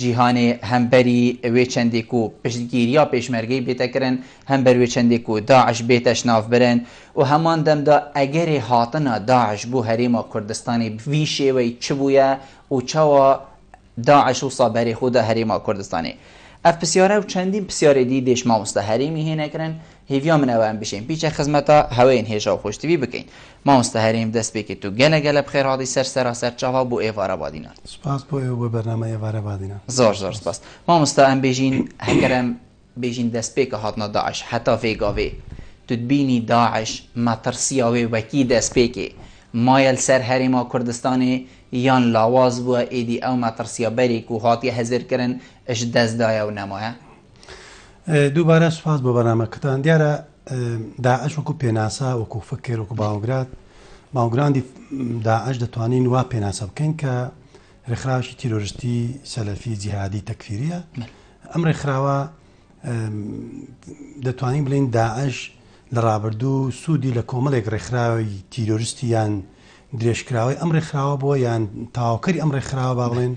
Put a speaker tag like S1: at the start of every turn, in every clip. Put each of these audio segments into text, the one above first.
S1: جیهانێ هەم بەری وێ چەندێک و پشتگیریا پێشمەرگەی بێتە کرن، هەم بەر وێ چەندێک و داعش بێتەش ناف برن و هەمان دەمدا ئەگەرێ هاتنا داعش بو هەرێما کوردستانێ بڤی شێوەی چ بویە و چاوا داعش وسا بەرێ خودا هەرێما کوردستانێ؟ ئەڤ پسیارە و چەندین پسیارێ دی دێش ماموستا هەرێمی هێنە کرن هیڤیا من ئەوەم بژیم بیچە خزمەتا هەوەین هێژا و خۆشتڤی بکەین مامۆستا هەرێم دەست پێ کرد و گەلە گەلە بخێر هاتی سەر سەراسەر چاڤا بۆ ئێڤا رەبادینان. سپاس بۆ ئێوە بۆ
S2: بەرنامە ئێڤا رەبادینان. زۆر زۆر سپاس
S1: مامۆستا ئەم بێژین هەگەر ئەم بێژین دەست پێ کە هاتنە داعش هەتا ڤێ گاڤێ تو تبینی داعش مەتڕسیاوێ وەکی دەست پێ کێ مایەل سەر هەرێما کوردستانێ یان لاواز بوە ئێدی ئەو مەتڕسیا بەرێ کو هاتیە هزر کرن ئش دەست دایە و نەمایە؟
S2: دووبارە سوپاس بۆ بەرنامەکەتان دیارە داعش وەکو پێناسە وەکو فکر وەکو باوگرات باوگراندی داعش دەتوانین وا پێناسە بکەین کە ڕێکخراوی تیرۆرستی سەلەفی جیهادی تەکفیریە ئەم ڕێکخراوە دەتوانین بڵین داعش لە ڕابردوو سوودی لە کۆمەڵێک ڕێکخراوی تیرۆرستی یان درێژکراوی ئەم ڕێکخراوە بووە یان تاواکەری ئەم ڕێکخراوە با بڵێن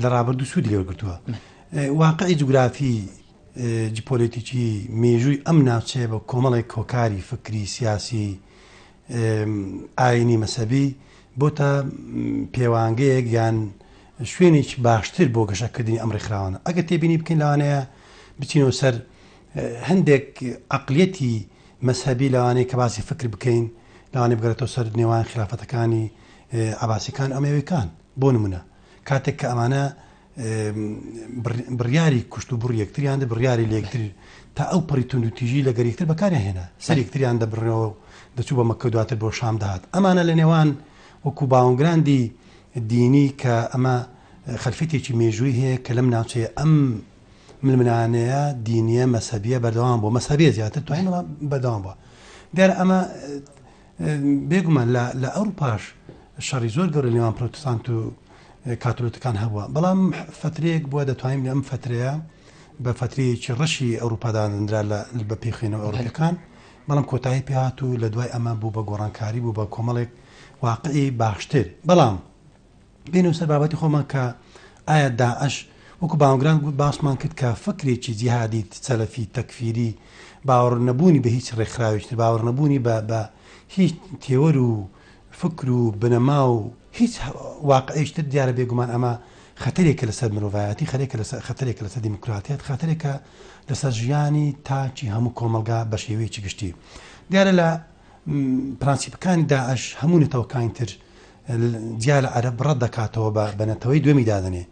S2: لە ڕابردوو سوودی لێوەگرتووە واقعی جوگرافی جیپۆلیتیکی میژووی ئەم ناوچەیە بە کۆمەڵێک کۆکاری فکری سیاسی ئاینی مەسەبی بۆتە پێوانگەیەک یان شوێنێک باشتر بۆ گەشەکردنی ئەم ڕێکخراوانە ئەگە تێبینی بکەین لەوانەیە بچینەوە سەر هەندێک عقلەتی مەسەبی لەوانەیە کە باسی فکر بکەین لەوانێ بگەێتەوە سەر نێوان خرافتەکانی عباسیەکان ئەمەوەکان بۆ نمونە کاتێک کە ئەمانە بڕیاری کوشت و بڕی یەکتریان دە بڕیاری لێکتر تا ئەو پڕی تونند و تیژی لە گەریکتر بەکاریان هێنا سەر یەکتریان دەبڕەوە دەچوو بە مەکە دواتر بۆ شام دەهات ئەمانە لە نێوان وەکو باونگراندی دینی کە ئەمە خەلفێتێکی مێژووی هەیە کە لەم ناوچەیە ئەم ملمنانەیە دینیە مەسەبیە بەردەوام بۆ مەسەبێ زیاتر توانەوە بەدەوام بووە دیار ئەمە بێ گومان لە ئەوروپاش شەڕی زۆر گەورە نێوان پرۆتستانت و کاتولتکان هەبووە، بەڵام فترەیەک بووە دەتوانین لەم فترەیە بە فترەیەکی ڕەشی ئەوروپا دادەنرا لە بە پێی خوێنەوە ئەوروپیەکان، بەڵام کۆتایی پێهات و لە دوای ئەمە بوو بە گۆڕانکاری بوو بە کۆمەڵێک واقعی باشتر، بەڵام. بێنەوە سەر بابەتی خۆمان کە ئایا داعش وەکو باوەگران گوت باسمان کرد کە فکرێکی جیهادی سەلەفی تەکفیری باوەڕ نەبوونی بە هیچ ڕێکخراوێکتر باوەڕ نەبوونی بە بە هیچ تێوەر و فکر و بنەما و هیچ واقعیشتر دیارە بێگومان ئەمە خەتەرێکە لەسەر مرۆڤایەتی خەرێکە لەسەر خەتەرێکە لەسەر دیموکراتیت خەتەرێکە لەسەر ژیانی تاکی هەموو کۆمەلگا بە شێوەیەکی گشتی دیارە لە پرانسیپەکانی داعش هەموو نەتەوەکانی تر جیا لە عەرەب ڕەت دەکاتەوە بە بە نەتەوەی دووەمی دادەنێ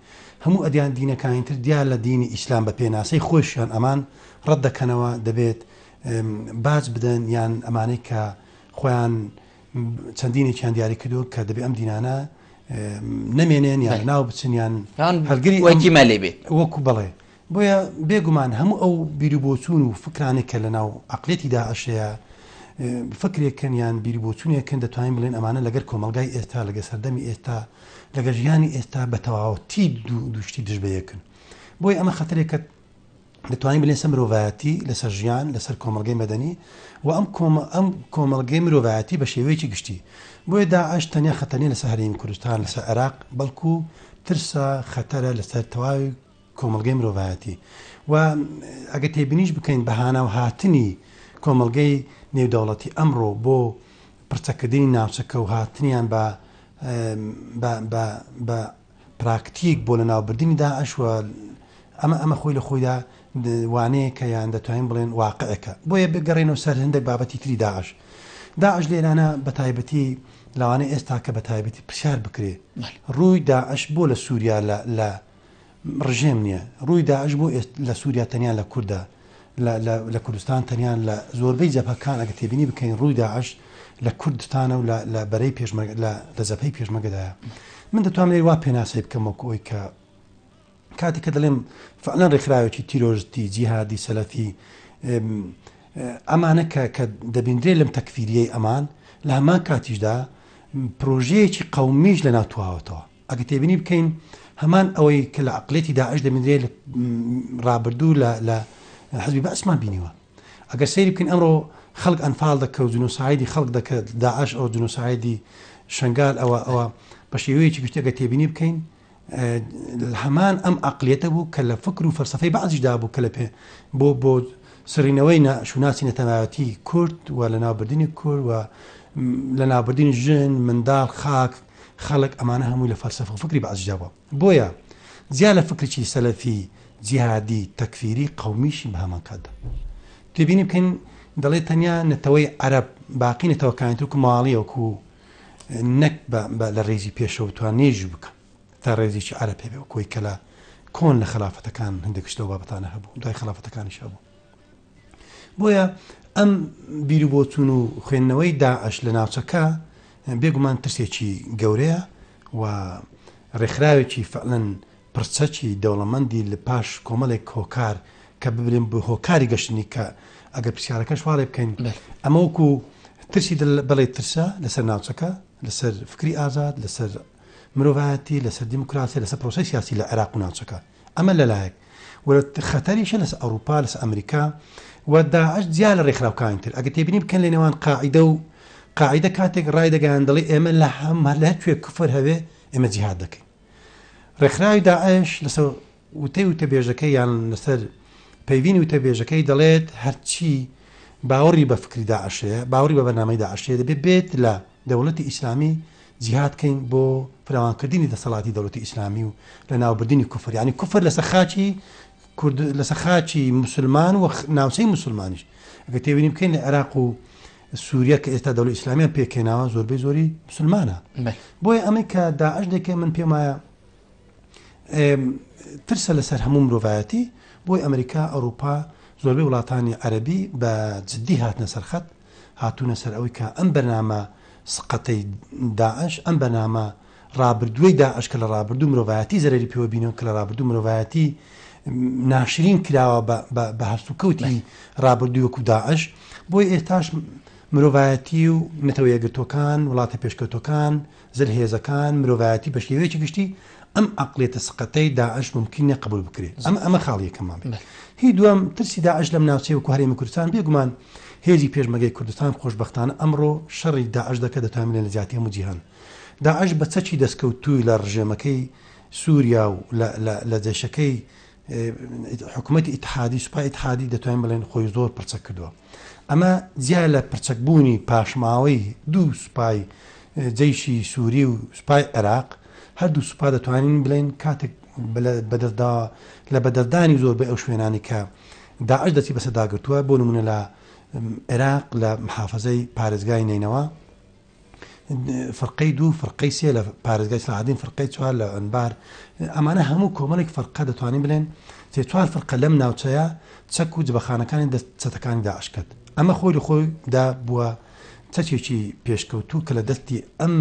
S2: هەموو ئەدیان دینەکانی تر جیا لە دینی ئیسلام بە پێناسەی خۆشیان ئەمان ڕەت دەکەنەوە دەبێت باج بدەن یان ئەمانەی کە خۆیان چەندینێکیان دیاری کردووە کە دەبێت ئەم دینانە نەمێنێن یان ناو بچنیان هەلگری وەکی مەلێ بێت
S1: وەکو بڵێ
S2: بۆیە بێ گومان هەموو ئەو بیروبۆچوون و فکرانێک کە لە ناو عەقڵیەتی داعش هەیە، فکرێکن یان بیروبۆچوونێکن دەتوانین بڵێن ئەمانە لەگەر کۆمەڵگای ئێستا، لەگەر سەردەمی ئێستا، لەگەر ژیانی ئێستا بە تەواوەتی دوو شتی دژ بە یەکن. بۆیە ئەمە خەتەرێکە دەتوانین بڵێن سەر مرۆڤایەتی، لەسەر ژیان، لەسەر کۆمەڵگەی مەدەنی و ئەم ئەم کۆمەڵگەی مرۆڤایەتی بە شێوەیەکی گشتی. بۆیە داعش تەنیا خەتەر نیە لەسەر هەرێمی کوردستان، لەسەر عێراق، بەڵکو ترسە، خەتەرە لەسەر تەواوی کۆمەڵگەی مرۆڤایەتی و ئەگەر تێبینیش بکەین بە هانا و هاتنی کۆمەڵگەی نێودەوڵەتی ئەمڕۆ بۆ پڕچەکردنی ناوچەکە و هاتنیان بە بە پراکتیک بۆ لەناوبردنی داعش و ئەمە ئەمە خۆی لە خۆیدا وانەیەکە یان دەتوانین بڵێن واقعەکە بۆیە بگەڕێنەوە سەر هەندێک بابەتی تری داعش داعش لێرانە بە تایبەتی لەوانە ئێستا کە بە تایبەتی پرسیار بکرێ ڕووی داعش بۆ لە سووریا لە ڕژێم نیە ڕووی داعش بۆ ئێست لە سوریا تەنیا لە کوردە لە لە لە کوردستان تەنیا لە زۆربەی جەبهەکان ئەگە تێبینی بکەین ڕووی داعش لە کوردستانە و لە لە بەرەی پێشمەرگ لە لە جەبهەی پێشمەگەدایە من دەتوانم لێ وا پێناسەی بکەم وەکو ئەوی کە کاتی کە دەڵێم فعلەن ڕێکخراوێکی تیرۆرستی جیهادی سەلەفی ئەمانە کە کە دەبیندرێت لەم تەکفیریەی ئەمان لە هەمان کاتیشدا پرۆژەیەکی قەومیش لە ناوتواوەتەوە ئەگەر تێبینی بکەین هەمان ئەوەی کە لە عقلێتی داعش دەبینرێت لە ڕابردوو لە لە حزبی بەسمان بینیوە ئەگەر سەیری بکەین ئەمڕۆ خەڵک ئەنفال دەکە و جنوسایدی خەڵک دەکرد داعش ئەو جنوسایدی شنگال ئەوە ئەوە بە شێوەیەکی گشتەگە تێبینی بکەین هەمان ئەم عقلێتە بوو کە لە فکر و فەرسەفەی بەعزیشدا بوو کە لە پێ بۆ بۆ سرینەوەی شوناسی نەتەنایەتی کورد و لە ناوبردننی کورد و لە نابردین ژن منداڵ خاک خەڵک ئەمانە هەمووی لە فەلسەفە و فکری بەعسیشدا بووە. بۆیە جیا لە فکرێکی سەلەفی، جیهادی، تەکفیری، قەومیشی بەهەمان کاتدا. تێبینی بکەین دەڵێت تەنیا نەتەوەی عەرەب باقی نەتەوەکانی تر وەکو ماڵی وەکو نەک بە لە ڕێزی پێشەوە توان نێژی بکە تا ڕێزێکی عەرە پێبێ و کۆی کەلا کۆن لە خەلافەتەکان هەندێکش لەو بابەتانە هەبوو دوای خەلافەتەکانیش هەبوو بۆیە ئەم بیروبۆچون و خوێندنەوەی داعش لە ناوچەکە بێگومان ترسێکی گەورەیە و ڕێکخراوێکی فەعلەن پڕچەکی دەوڵەمەندی لە پاش کۆمەڵێک هۆکار کە ببرێن بۆ هۆکاری گەشتنی کە ئەگەر پرسیارەکەش واڵێ بکەین ئەمە وەکو ترسی بڵێ ترسە لەسەر ناوچەکە لەسەر فکری ئازاد لەسەر مرۆڤایەتی لەسەر دیموکراسی لەسەر پرۆسی سیاسی لە عێراق و ناوچەکە ئەمە لەلایەک و خەتەریشە لەسەر ئەوروپا لەسەر ئەمریکا و داعش جیا لە ڕێکخراوکانی تر ئەگە تێبینی بکەن لە نێوان قاعدە و قاعدە کاتێک ڕای دەگەیان دەڵی ئێمە لە هەم هەر لە کوێ کفر هەوێ ئێمە جیهاد دەکەین ڕێکخراوی داعش لەسەر وتەی وتەبێژەکەی یان لەسەر پەیوینی وتەبێژەکەی دەڵێت هەرچی باوەڕی بە فکری داعشەیە باوەڕی بە بەنامەی داعشەیە دەبێت بێت لە دەوڵەتی ئیسلامی جیهاد کەین بۆ فراوان کردنی دەسەڵاتی دەوڵەتی ئیسلامی و لە ناوبردنی کوفر یانی کوفر لەسەر خاکی کورد لەسەر خاکی موسلمان و ناوچەی موسلمانیش ئەگە تێبینی بکەین لە عێراق و سووریا کە ئێستا دەوڵەت ئیسلامیان پێکێناوە زۆربەی زۆری مسلمانە بۆیە ئەمەی کە داعش دەکەی من پێم وایە ترسە لەسەر هەموو مرۆڤایەتی بۆی ئەمریکا ئەوروپا زۆربەی وڵاتانی عەربی بە جددی هاتنە سەرخەت هاتوونە سەر ئەوەی کە ئەم بەرنامە سقەتەی داعش، ئەم بەرنامە ڕابردووەی داعش کە لە ڕابردوو مرۆڤایەتی زەرەری پێوە بینیوە، کە لە ڕابردوو مرۆڤایەتی ناشرین کراوە بە هەلسوکەوتی ڕابردووی وەکو داعش، بۆیە ئێستاش مرۆڤایەتی و نەتەوە یەکگرتووەکان، وڵاتە پێشکەوتووەکان، زلهێزەکان، مرۆڤایەتی بە شێوەیەکی گشتی ئەم عەقڵیەتە سەقەتەی داعش مومکین نیە قبوڵ بکرێت. ئەمە ئەمە خاڵی یەکەممان بێت. هی دووەم، ترسی داعش لەم ناوچەی وەکو هەرێمی کوردستان، بێگومان هێزی پێشمەرگەی کوردستان خۆشبەختانە ئەمڕۆ شەڕی داعش دەکەت دەتوانین بڵێین لە جیاتی هەموو جیهان داعش بە چەکی دەستکەوتووی لە ڕژێمەکەی سوریا و لە لە جەیشەکەی حکومەتی ئیتحادی سوپای ئیتحادی دەتوانین بڵێن خۆی زۆر پرچەک کردووە ئەمە جیا لە پرچەکبوونی پاشماوەی دوو سوپای جەیشی سووری و سوپای عێراق هەردوو سوپا دەتوانین بڵێن کاتێک بەدەستدا لە بەدەستدانی زۆر بە ئەو شوێنانی کە داعش دەچی بەسەداگرتووە بۆ نمونە لە عێراق لە محافزەی پارێزگای نینەوە فرقەی دوو فرقەی سێ لە پارێزگای سەعدین فرقەی چوار لە ئەنبار ئەمانە هەموو کۆمەڵێک فرقە دەتوانین بلێن تێ چوار فرقە لەم ناوچەیە چەک و جبەخانەکانی دەست چەتەکانی داعشکرد ئەمە خۆی لە خۆی دا بووە چەچێکی پێشکەوتوو کە لە دەستی ئەم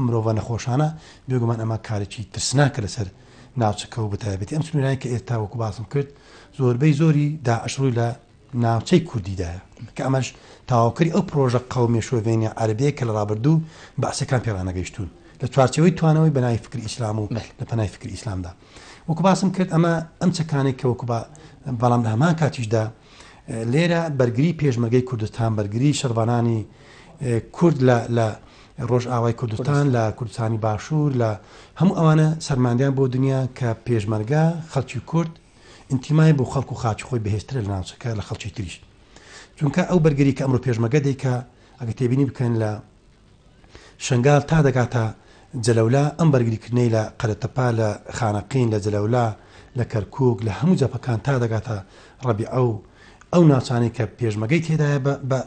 S2: مرۆڤە نەخۆشانە بێگومان ئەمە کارێکی ترسناکە لەسەر ناوچەکە و بەتایبەتی ئەم سنوورانی کە ئێستا وەکو باسم کرد زۆربەی زۆری داعشڕووی لە ناوچەی کوردیدایە، کە ئەمەش تەواوکەری ئەو پڕۆژە قەومییە شۆڤێنییە عەرەبییەی کە لە ڕابردوو بەعسییەکان پێ ڕانەگەیشتوون لە چوارچێوەی توانەوەی بەناوی فکری ئیسلام و لە پەنای فکری ئیسلامدا وەکو باسم کرد ئەمە ئەم چەکانەی کە وەکو بەڵام لە هەمان کاتیشدا لێرە بەرگری پێشمەرگەی کوردستان بەرگری شەڕڤانانی کورد لە ڕۆژئاوای کوردستان لە کوردستانی باشوور لە هەموو ئەوانە سەرماندیان بۆ دنیا کە پێشمەرگە خەڵکی کورد ئینتیمای بۆ خەڵک و خاکی خۆی بەهێزترە لە ناوچەکە لە خەڵکی تریش چونکە ئەو بەرگری کە ئەمرۆ پێشمەگە دەیکا ئەگە تێبینی بکەن لە شنگال تا دەگاتە جەلەولا ئەم بەرگریکردنەی لە قەرەتەپا لە خانەقین لە جەلەولا لە کەرکک لە هەموو جەپەکان تا دەگاتە ڕەبی ئەو ئەو ناوچانەی کە پێشمەگەی تێدایە بە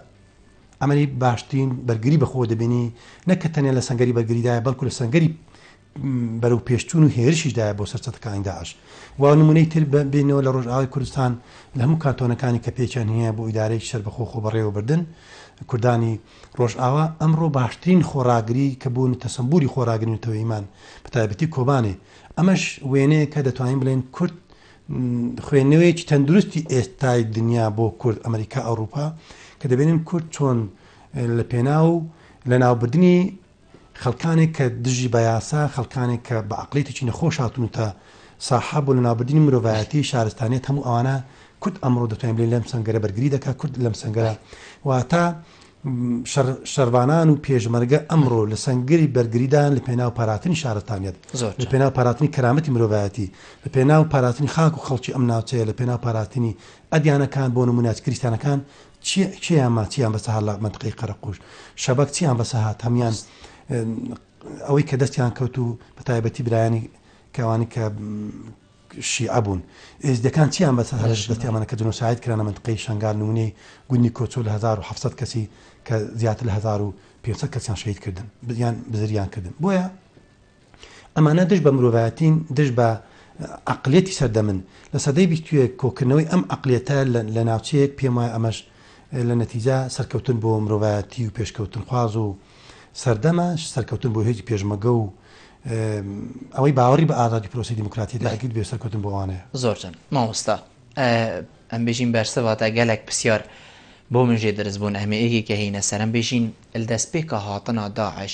S2: ئەمەری باشترین بەرگری بەخۆ دەبینی نەکە تەنێ لە سنگری بەرگریدایە بەڵکو لە سنگری بەرەو پێشچوون و هێرشیش دایە بۆ سەر چەتەکانی داعش و نمونەی تر بێنەوە لە ڕۆژئاوای کوردستان لە هەموو کانتۆنەکانی کە پێچیان هەیە بۆ ئیدارەیەکی سەربەخۆ خۆ بەڕێوەبردن کوردانی ڕۆژئاوا ئەمڕۆ باشترین خۆڕاگری کە بوون تەسەمبوری خۆراگرن و تەوەیمان بە تایبەتی کۆبانێ ئەمەش وێنەیە کە دەتوانین بڵێن کورد خوێندنەوەیەکی تەندروستی ئێستای دنیا بۆ کورد ئەمریکا ئەوروپا کە دەبێنن کورد چۆن لە پێناو لە ناوبردنی خەڵکانێک کە دژی بە یاسا، خەڵکانێک کە بە عەقڵیەتێکی نەخۆش هاتوونەتە ساحە بۆ لەناوبردنی مرۆڤایەتی، شارستانیەت هەموو ئەوانە کورد ئەمڕۆ دەتوانین بڵێین لەم سەنگەرە بەرگری دەکات، کورد لەم سەنگەرە واتە شەڕ شەڕڤانان و پێشمەرگە ئەمڕۆ لە سەنگەری بەرگریدان لە پێناو پاراستنی شارستانیەت، زۆر لە جا پێناو پاراستنی کەرامەتی مرۆڤایەتی، لە پێناو پاراستنی خاک و خەڵکی ئەم ناوچەیە، لە پێناو پاراستنی ئەدیانەکان بۆ نموونە کریستیانەکان کێیان ما چیان بەسە هات لە مەنتقەی قەرەقوش شەبەک چیان بەسە هات هەمان ئەوەی کە دەستیان کەوت و بە تایبەتی برایانی کەوانی کە شیعە بوون ئێزدەکان چیان بەسە هەرش دەستیانمانە کە جنۆساید کرانە منتقەی شنگال نمونەی گوندی کۆچۆ لە 1970 کەسی کە زیاتر لە 1500 کەسیان شەید کردن بدیان بزریان کردن بۆیە ئەمانە دژ بە مرۆڤایەتین، دژ بە عەقڵیەتی سەردەمن. لە سەدەی بیستویەک کۆکردنەوەی ئەم عەقڵیەتە لە ناوچەیەک پێم وایە ئەمەش لە نەتیجە سەرکەوتن بۆ مرۆڤایەتی و پێشکەوتنخواز و سەردەمە، سەرکەوتن بۆ هێزی پێشمەگە و ئەوەی باوەڕی بە ئازادی و پرۆسەی دیموکراتیەتی نەکردبێ سەرکەوتن بۆ ئەوانەیە. زۆر جەن مامۆستا
S1: ئەمبژین بەرسە واتا گەلەک پسیار بۆ من ژێ درس بوون ئەهمێ ئێگێ کە هینە سەرم بژین لدەس پێکا هاتنا داعش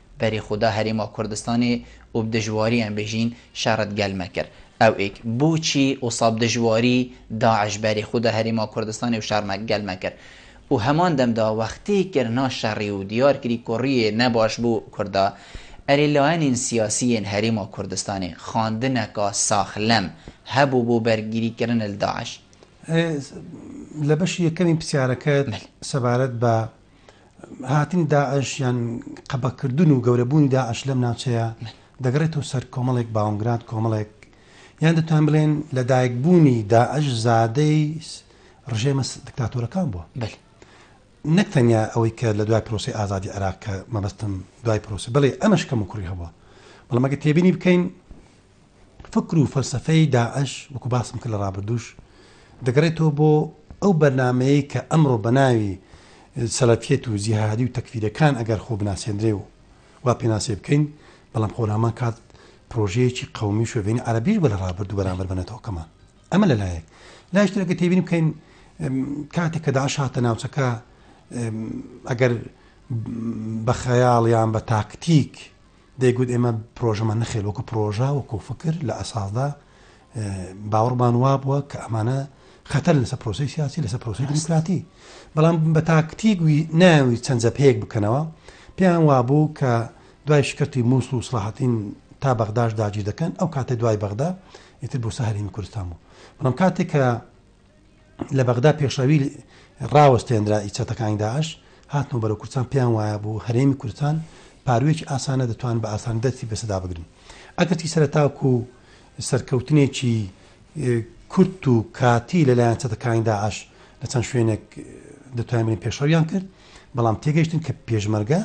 S1: بەری خودا هەریما کوردستانێ ئوب دژواریان بژین شەڕت گەل مەکر ئەوئک بوچی ئوساب دژواری داعش بەری خودا هەریما کوردستانێ و شەڕ مە گەل مەکر ئو هەمان دەم دا وەختی کرنا شەڕی و دیار کری کوڕیێ نە باش بو کوردا ئەری لایەنین سیاسیێن هەریما کوردستانێ خاندنەکا ساخ لەم هەبو بو بەرگری کرن لە داعش. ئێ
S2: لە بەشی یەکەمی پسیارەکەت سەبارەت بە. هاتنی داعش یان قەبەکردن و گەورەبوونی داعش لەم ناوچەیە دەگەڕێتەوە سەر کۆمەڵێک باونگراد کۆمەڵێک یان دەتوان بڵێن لە دایکبوونی داعش زادەی ڕژێمە دکتاتۆرەکان بووە بەل نەک تەنیا ئەوەی کە لە دوای پرۆسی ئازادی عراق کە مەبەستم دوای پرۆسی بڵێ ئەمەش کەم و کوڕی هەبووە بەڵام ئەگە تێبینی بکەین فکر و فەلسەفەی داعش وەکو باسم کرد لە ڕابردووش دەگەڕێتەوە بۆ ئەو بەرنامەیەی کە ئەمڕۆ بە ناوی سەلەفیەت و جیهادی و تەکفیرەکان ئەگەر خۆ بناسێندرێ و وا پێناسێ بکەین بەڵام خۆ لامان کات پرۆژەیەکی قومی و شۆڤێنی عەرەبیش بە لە ڕابردوو بەرامبەر بە نەتەوەکەمان ئەمە لە لایەک لایش ترەکە تێبین بکەین کاتێک کە داعش هاتە ناوچەکە ئەگەر بە خەیاڵیان بە تاکتیک دەیگوت ئێمە پرۆژەمان نەخێر وەکو پرۆژە وەکو فکر لە ئەساسدا باوەڕمان وابووە کە ئەمانە خەتەر لەسەر پرۆسی سیاسی لەسەر پرۆسی دیموکراتی بەڵام بە تاکتیک ناوی چەند جەپەیەک بکەنەوە پێیان وابوو کە دوای شکستی مووس و سڵاحەتین تا بەغداش داگیر دەکەن ئەو کاتێ دوای بەغدا ئیتر بۆ سەهری کوردستان بوو بەڵام کاتێک کە لە بەغدا پێشڕەوی ڕاوەستێنرا ی چەتەکانی داعش هاتنەوە بەرەو کوردستان پێیان وایە بۆ هەرێمی کوردستان پاروویەکی ئاسانە دەتوانن بە ئاسانی دەستی بە سەدا بگرن ئەگەرچی سەرەتاکو سەرکەوتنێکی کورت و کاتی لەلایەن چەتەکانی داعش لە چەند شوێنێک دەتوانین پێشڕەویان کرد بەڵام تێگەشتن کە پێشمەرگە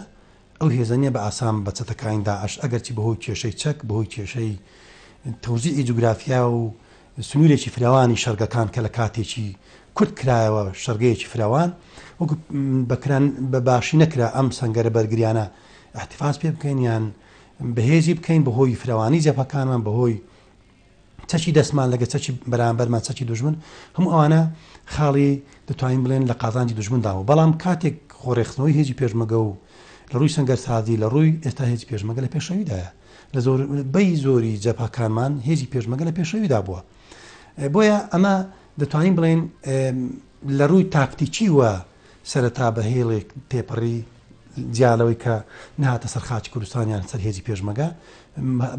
S2: ئەو هێزەنیە بە ئاسان بە چەتەکانی داعش ئەگەرچی بەهۆی کێشەی چەک بەهۆی کێشەی تەوزیعی جوگرافیا و سنوورێکی فراوانی شەرگەکان کە لە کاتێکی کورت کرایەوە شەرگەیەکی فراوان وەکو بە کران بە باشی نەکرا ئەم سەنگەرە بەرگریانە احتفاز پێ بکەین یان بەهێزی بکەین بە هۆی فراوانی جەپەکانمان بە هۆی چەکی دەستمان لەگە چەکی بەرامبەرمان چەکی دژمن هەموو ئەوانە خاڵی دەتوانین بڵێن لە قازانجی دژمنداوە بەڵام کاتێک خۆڕێخستنەوەی هێزی پێشمەگە و لە ڕووی سنگەر سازی لە ڕووی ئێستا هێزی پێشمەگە لە پێشەویدایە لە زۆر بەی زۆری جەبهەکانمان هێزی پێشمەگە لە پێشەویدا بووە بۆیە ئەمە دەتوانین بڵێن لە ڕووی تاکتیکی وە سەرەتا بە هێڵێک تێپەڕی جیالەوەی کە نهاتە سەر خاچ کوردستانیان سەر هێزی پێشمەگە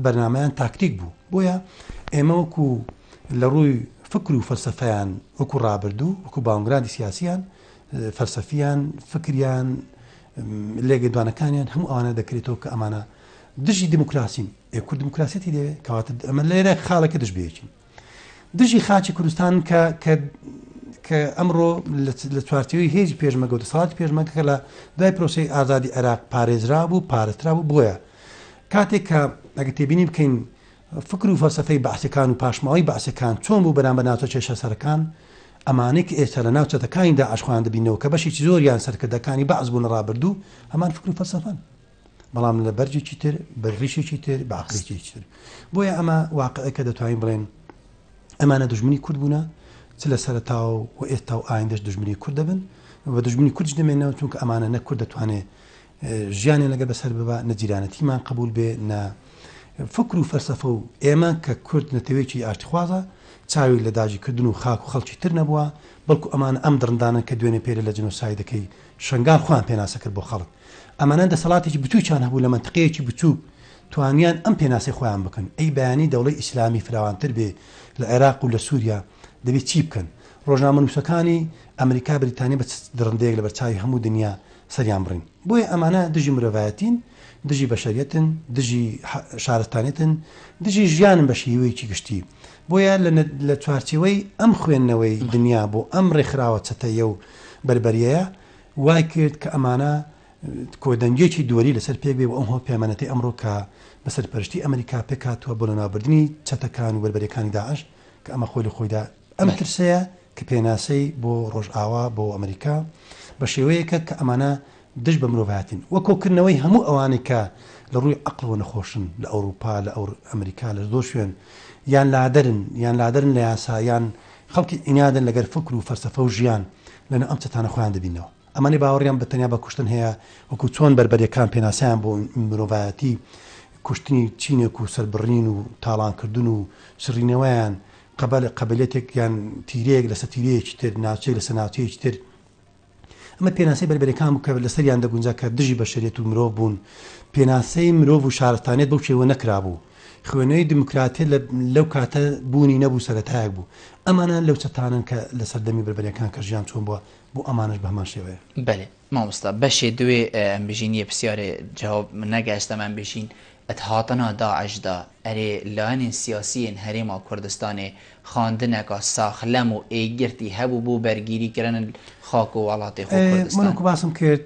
S2: بەرنمەیان تاکتیک بوو بۆیە ئێمە وەکو لە ڕووی فکر و فەلسفەیان وەکو ڕابردوو وەکو باونگرادی سیاسیان فەلسفیان فکریان لێگەدوانەکانیان هەموو ئەوانە دەکرێتەوە کە ئەمانە دژی دیموکراسین، ئێ کورد دیموکراسیەتی دەوێت، کەواتە ئەمە لێرە خاڵێکە دژ بەیەکین. دژی خاچی کوردستان کە کە کە ئەمڕۆ لە چوارچەوەی هێزی پێشمەگە و دەسەڵاتی پێشمەکە کە لە دوای پرۆسی ئازادی عێراق پارێزرا بوو پارێزرا بوو بۆیە کاتێک کە ئەگە تێبینی بکەین فکر و فەلسفەی بەعسەکان و پاشماوەی بەعسەکان چۆن بوو بەرامبەر ناوچە کێشە سەرەکان ئەمانەی کە ئێستا لە ناو چەتەکانیدا ئاشخواان دەبینەوە کە بەشێکی زۆریان سەرکردەکانی بەعس بوون ڕابردوو هەمان فکر و فەلسفەن بەڵام لە بەرجێکی تر بە ڕیشێکی تر بە عقلێکی تر بۆیە ئەمە واقعەکە دەتوانین بڵێن ئەمانە دژمنی کورد بوونە چ لە سەرتا و و ئێستا و ئایندەش دژمنی کورد دەبن و دژمنی کوردش دەمێنەوە چونکە ئەمانە نە کورد دەتوانێت ژیانێ لەگە بەسەر ببا نەجیرانەتیمان قبول بێ نە فکر و فەرسەفە و ئێمە کە کورد نەتەوێکی ئاشتخوازە چاوی لە داگیکردن و خاک و خەڵکی تر نەبووە بەڵکو ئەمان ئەم دڕندانە کە دوێنێ پێرە لە جنۆسایدەکەی شنگال خۆیان پێناسە کرد بۆ خەڵک ئەمانە دەسەڵاتێکی بچووکیان هەبوو لە مەنتقەیەکی بچووک توانیان ئەم پێناسەی خۆیان بکەن، ئەی بەیانی دەوڵەی ئیسلامی فراوانتر بێ لە عێراق و لە سووریا دەبێ چی بکەن؟ ڕۆژنامەنووسەکانی ئەمریکا بریتانیا بە چ دڕندەیەک لەبەرچاوی هەموو دنیا سەریان بڕین؟ بۆیە ئەمانە دژی مرۆڤایەتین، دژی بەشەریەتن، دژی شارستانیەتن، دژی ژیانن بە شیوەیەکی گشتی. بۆیە لە چوارچێوەی ئەم خوێندنەوەی دنیا بۆ ئەم ڕێکخراوە چەتەیە و بەربەریەیە وای کرد کە ئەمانە کۆدەنگیەکی دوەری لەسەر پێک بێ و ئەم هەوپەیمانەتەی ئەمڕۆ کە بە سەرپەرشتی ئەمریکا پێک هاتووە بۆ لەناوبردنی چەتەکان و بەربەریەکانی داعش کە ئەمە خۆی لە خۆیدا ئەم ترسەیە کە پێناسەی بۆ ڕۆژئاوا بۆ ئەمریکا بە شێوەیەکە کە ئەمانە دژ بە مرۆڤایەتین وە کۆکردنەوەی هەموو ئەوانەی کە لە ڕووی عەقڵەوە نەخۆشن لە ئەوروپا لە ئەور ئەمریکا لە زۆر شوێن یان لادەرن یان لادەرن لە یاسا یان خەڵکی عینادن لەگەر فکر و فەلسەفە و ژیان لەنێو ئەم چەتانە خۆیان دەبیننەوە. ئەمانەی باوەڕیان بە تەنیا بە کوشتن هەیە، وەکو چۆن بەربەریەکان پێناسەیان بۆ مرۆڤایەتی کوشتنی چینێک و سەربڕین و تاڵانکردن و چڕینەوەیان قەبەلە قەبەلێتێک یان تیرەیەک لەسەر تیرەیەکی تر، ناوچەیەک لەسەر ناوچەیەکی تر، ئەمە پێناسەی بەربەریەکان بوو کە لەسەریان دەگونجا کە دژی بەشەریەت و مرۆڤ بوون، پێناسەی مرۆڤ و شارستانیەت بەو شێوە نەکرابوو. خوێنەری دیموکراتیە لەو کاتە بوونی نەبوو سەرەتایەک بوو. ئەمانە لەو چەتانەن کە لە سەردەمی بەربەریەکان کە ژیان چۆن بووە بۆ ئەمانەش بە هەمان شێوەیە. بەلی مامۆستا
S1: بەشێ دوێ ئەم بژین یە پسیارێ جەواب نەگەشتم ئەم بژین ئەت هاتنا داعش دا ئەرێ لایەنێن سیاسیێن هەرێما کوردستانێ خاندنەکا ساخلەم و ئێگرتی هەبوو بۆ بەرگیری کرنل خاک و وەڵاتێ خۆ کوردستان. من وەکو باسم کرد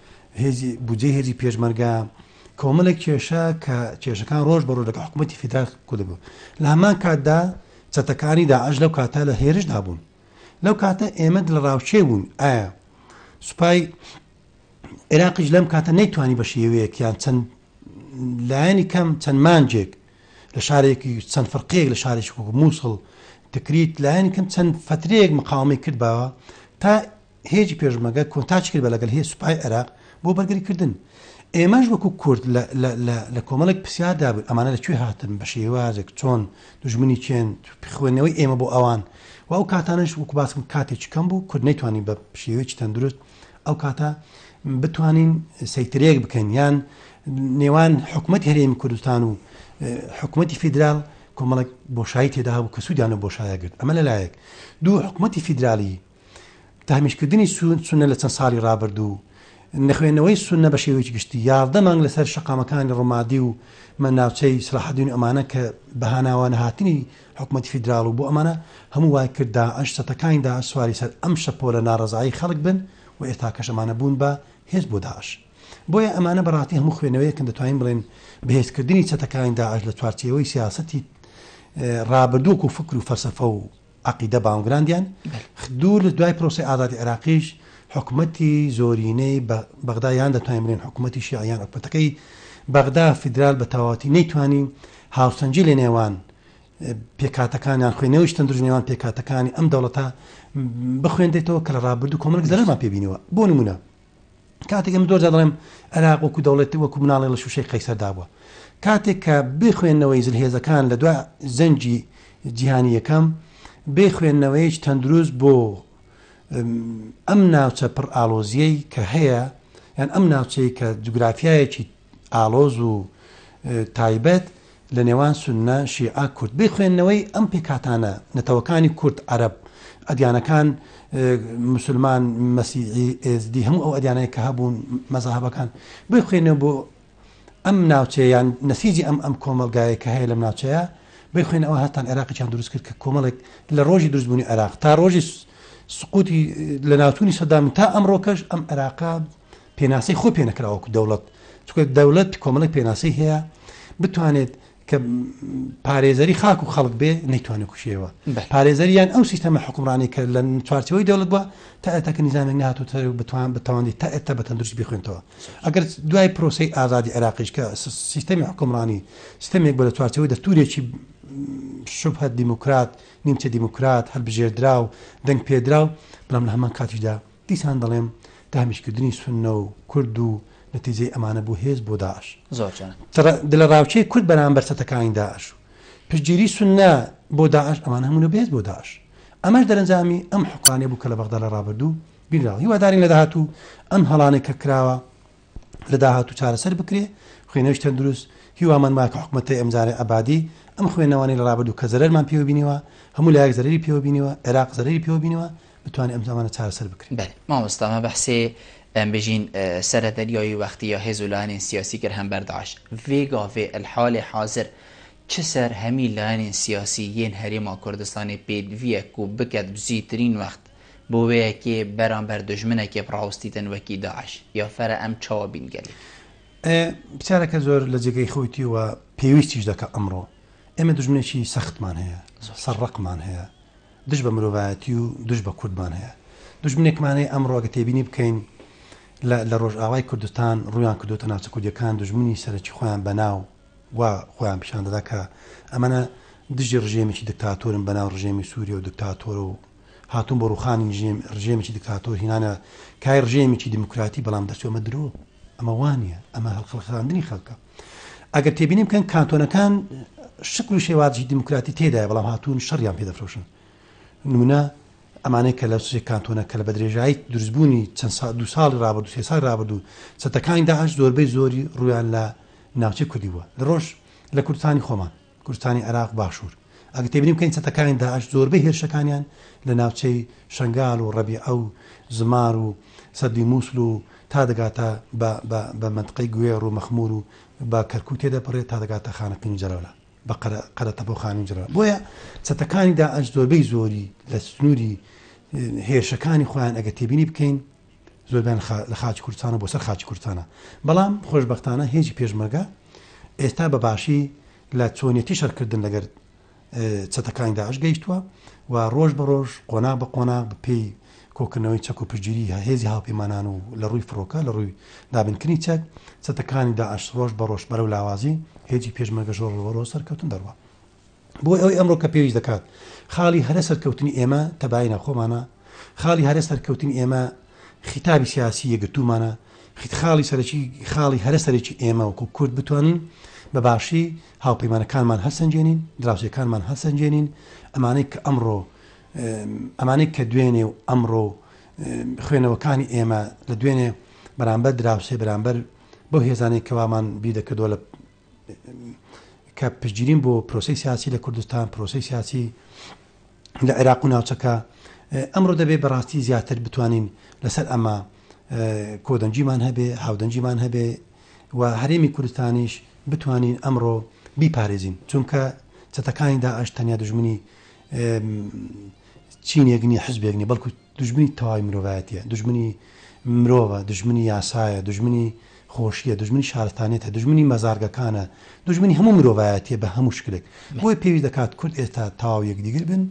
S2: بودجەی هێزی پێشمەرگە، کۆمەڵێک کێشە کە کێشەکان ڕۆژ بە ڕۆژ لەگەڵ حکوومەتی فیدرال کوردبوو لە هەمان کاتدا چەتەکانی داعش لەو کاتە لە هێرشدا بوون لەو کاتە ئێمە لە ڕاوچێ بوون ئایا سوپای عێراقیش لەم کاتە نەیتوانی بە شێوەیەک یان چەند لایەنی کەم چەند مانجێک لە شارێکی چەند فرقەیەک لە شارێک مووسڵ دەکریت لایەن کەم چەند فترەیەک مقاومی کرد باوە تا هێزی پێشمەرگە کۆنتاکتی کرد بە لەگەل هێز سوپای عێراق بۆ بەرگری کردن ئێمەش وەکو کورد لە کۆمەڵێک پرسیار دابووین ئەمانە لە کوێ هاتن بە شێوازێک چۆن دژمنی چێن خوێندنەوەی ئێمە بۆ ئەوان و ئەو کاتانش وەکو باسم کاتێکی کەم بوو کورد نەیتوانی بە شێوەیەکی تەندروست ئەو کاتە بتوانین سەیترێک بکەین یان نێوان حکوومەت هەرێمی کوردستان و حکوومەتی فیدرال کۆمەڵک بۆشایی تێدا بوو کە سوودیانە بۆشایە گرت ئەمە لەلایەک دوو حکوومەتی فیدرالی تەهمیشکردنی سوننە لە چەند ساڵی ڕابردوو، نەخوێندنەوەی سوننە بە شێوەیەکی گشتی، یازدە مانگ لەسەر شەقامەکانی ڕومادی و مە ناوچەی سەلاحەدین و ئەمانە کە بە هاناوە نەهاتنی حکومەتی فیدراڵ و بۆ ئەمانە هەموو وای کرد داعش چەتەکانی داعش سواری سەر ئەم شەپۆلە ناڕەزایی خەڵک بن و ئێستاکەش ئەمانە بوون بە هێز بۆ داعش بۆیە ئەمانە بەڕاستی هەموو خوێنەوەیەکن دەتوانین بڵێن بەهێزکردنی چەتەکانی داعش لە چوارچێوەی سیاسەتی ڕابردووک و فکر و فەلسەفە و عەقیدە باونگراندیان دوور دوای پرۆسەی ئازادی عێراقیش حکومەتی زۆرینەی بەغدا یان دەتوانین بڵێن حکومەتی شیعە یان حکومەتەکەی بەغدا فیدرال بە تەواوەتی نەیتوانی هاوسەنجی لە نێوان پێکاتەکانیان خوێ نەوەی شتەن دژنێوان پێکاتەکانی ئەم دەوڵەتە بخوێندێتەوە کە لە ڕابردوو کۆمەک زەرمان پێبینەوە بۆ نمونە کاتێک ئەمن زۆرجار دەڵێم عێراق وەکو دەوڵێت وەکو مناڵێ لە شوشەی قەیسەر دابووە کاتێک کە بخوێندنەوەی زلهێزەکان لە دو زەنجی جیهانی یەکەم بێ خوێندنەوەیش تەندروست بۆ ئەم ناوچە پڕ ئالۆزیەی کە هەیە یان ئەم ناوچەیە کە جوگرافایەکی ئاڵۆز و تایبەت لە نێوان سوننە، شیعە، کورد. بێ خوێندنەوەی ئەم پێکهاتانە، نەتەوەکانی کورد، عەرەب، ئەدیانەکان، موسلمان، مەسیحی، ئێزدی، هەموو ئەو ئەدیانەی کە هەبوون، مەزاهەبەکان، بێ خوێندنەوە بۆ ئەم ناوچەیە یان نەسیجی ئەم ئەم کۆمەڵگایەی کە هەیە لەم ناوچەیە، بێ خوێندنەوە هەستان عێراقیان دروست کرد کە کۆمەڵێک لە ڕۆژی دروستبوونی عێراق تا ڕۆژی سقوتی لەناوچوونی سەدام تا ئەمڕۆکەش ئەم عێراقە پێناسەی خۆی پێ نەکراوە وەکو دەوڵەت چونکە دەوڵەت کۆمەڵێک پێناسەی هەیە بتوانێت کە پارێزەری خاک و خەڵک بێ نەیتوانێت کوشێەوە پارێزەریان ئەو سیستەمە حکومڕانی کە لە چوارچەوەی دەوڵەت بووە تا ئێتاکە نیزانێک نهاتوت بتوان بتوانانی تا ئێتا بە تەندروست بخوێنەوە ئەگەر دوای پرۆسی ئازادی عراقیش کە سیستەمی حکومڕانی سیستەمێک بە لە چوارچەوەی دەستورێکی شوبهە دیموکرات نیمچە دیموکرات هەلبژێردرا و دەنگ پێدرا و بەڵام لە هەمان کاتیشدا دیسان دەڵێم داهمیشکردنی سوننە و کورد و نەتیجەی ئەمانە بوو هێز بۆ داعش. زۆر جوان. دلەڕاوکێی کورد بەرامبەر چەتەکانی داعش و پشتگیری سوننە بۆ داعش ئەمانە هەموو لە بەهێز بۆ داعش. ئەمەش دەرەنجامی ئەم حوکمرانیە بوو کە لە بەغدا لە ڕابردوو بینراوە. هیوادارین لە داهاتوو ئەم هەڵانەی کە کراوە لە داهاتوو چارەسەر بکرێ، خوێنەوەی تەندروست، هیوامان وایە کە حکومەتەی ئەمجارەی عەبادی ئەم خوێنەوانەی لە رابردوو کە زەرەرمان پێوە بینیوە، هەموو لایەک زەرەری پێوە بینیوە، عێراق زەرەری پێوە بینیوە، بتوانێ ئەم ئەمانە چارەسەر بکرێ. بەلی مامۆستا مە
S1: بەحسێ ئەم بژین سەرە دەریایی وەختی یا هێز و لایەنێن سیاسی کرد هەم بەر داعش ڤێ گاڤێ ال حالێ حازر چ سەر هەمی لایەنێن سیاسی یێن هەرێما کوردستانێ پێت ڤیە کوو بکەت بزیترین وەخت بۆ وەیەکێ بەرامبەر دوژمنەکێ بڕاوستی تەنوەکی داعش یا فەرە ئەم چاوە بین گەلێ. ئێ
S2: پرسیارەکە زۆر لە جێگەی خۆیتی و پێویستیش دەکا ئەمڕۆ ئێمە دوژمنێکی سەختمان هەیە سەر ڕەقمان هەیە دژ بە مرۆڤایەتی و دژ بە کوردمان هەیە دوژمنێکمان هەیە ئەمڕۆ ئەگە تێبینی بکەین لە ڕۆژئاوای کوردستان ڕویان کردوتە ناوچە کوردیەکان دوژمنی سەرەکی خۆیان بەناو و خۆیان پیشان دەدا کە ئەمەە دژی ڕژێمیی دکتاتۆرن بەناو ڕژێمی سووریە و دکتاتۆر و هاتوون بۆ ڕووخانی ژێم ڕژێمێکی دکتاتۆر هینانە کای ڕژێمێکی دیموکراتی بەڵام دەرچوو ئەمە درۆ ئەمە وانە ئەمە هەڵخەڵخاندنی خەڵکە ئەگەر تێبینی بکەن کانتۆنەکان شکل و شێوازی دیموکراتی تێدای بەڵام هاتوون شەڕیان پێدەفرۆشن نمونە ئەمانەی کە لە سوێ کانتۆنە کە لە بە درێژایی دروستبوونی چەند سا دو ساڵی رابرد سێ سال رابرد و چەتەکانی داهش زۆربەی زۆری ڕویان لە ناوچەی کوردی بووە لە ڕۆژ لە کوردستانی خۆمان کوردستانی عێراق باشوور ئەگەر تێبینی بکەین چەتەکانی داعش زۆربەی هێرشەکانیان لە ناوچەی شەنگال و ڕەبیعە و زمار و سەدی مووسل و تا دەگاتە بە مەنتقەی گوێڕ و مەخموور و بە کەرکووک تێدەپەڕێت تا دەگاتە خانەقین و جەلەولا بە قەرەتەپە و خانووی جەلەولا بۆیە چەتەکانی داعش زۆربەی زۆری لە سنووری هێرشەکانی خۆیان ئەگەر تێبینی بکەین زۆربەیان لە خاچی کوردستانە بۆ سەر خاچی کوردستانە بەڵام خۆشبەختانە هێزی پێشمەرگە ئێستا بە باشی لە چۆنیەتی شەرکردن لەگەر چەتەکانی داعش گەیشتووە و ڕۆژ بە ڕۆژ قۆنا بە قۆنا بەپێی کۆکردنەوەی چەک و پشگیری هەهێزی هاوپەیمانان و لە ڕووی فڕۆکە لە ڕووی دابنکردنی چەک چەتەکانی داعش ڕۆژ بە ڕۆژ بەرەو لاوازی هێزی پێشمەگە ژۆڕ ڕۆ سەرکەوتن دەڕوە بۆ ئەوەی ئەمڕۆ کە پێویست دەکات خاڵی هەرە سەرکەوتنی ئێمە تەباینە خۆمانە خاڵی هەرە سەرکەوتنی ئێمە خیتابی سیاسی یەگرتوومانە خاڵی سەرەکی خاڵی هەرە سەرەکی ئێمە وەکو کورد بتوانین بە باشی هاوپەیمانەکانمان هەرسەنجێنین دراوسێکانمان هەرسەنجێنین ئەمانەی کە ئەمڕۆ ئەمانەی کە دوێنێ و ئەمڕۆ خوێنەوەکانی ئێمە لە دوێنێ بەرامبەر دراوسێ بەرامبەر بۆ هێزانەی کەوامان بیدەکردووە لە کە پشتگیرین بۆ پرۆسەی سیاسی لە کوردستان، پرۆسەی سیاسی لە عێراق و ناوچەکە. ئەمڕۆ دەبێ بە ڕاستی زیاتر بتوانین لەسەر ئەمە کۆدەنگیمان هەبێ، هاودەنگیمان هەبێ و هەرێمی کوردستانیش بتوانین ئەمڕۆ بیپارێزین، چونکە چەتەکانی داعش تەنیا دوژمنی چینێک نیە، حزبێک نیە، بەڵکو دوژمنی تەواوی مرۆڤایەتیە، دوژمنی مرۆڤە، دوژمنی یاسایە، دوژمنی خۆشیە، دوژمنی شارستانیەتە، دوژمنی مەزارگەکانە، دوژمنی هەموو مرۆڤایەتیە بە هەموو شکلێک، بۆیە پێویست دەکات کورد ئێستا تەواو یەکدیگر بن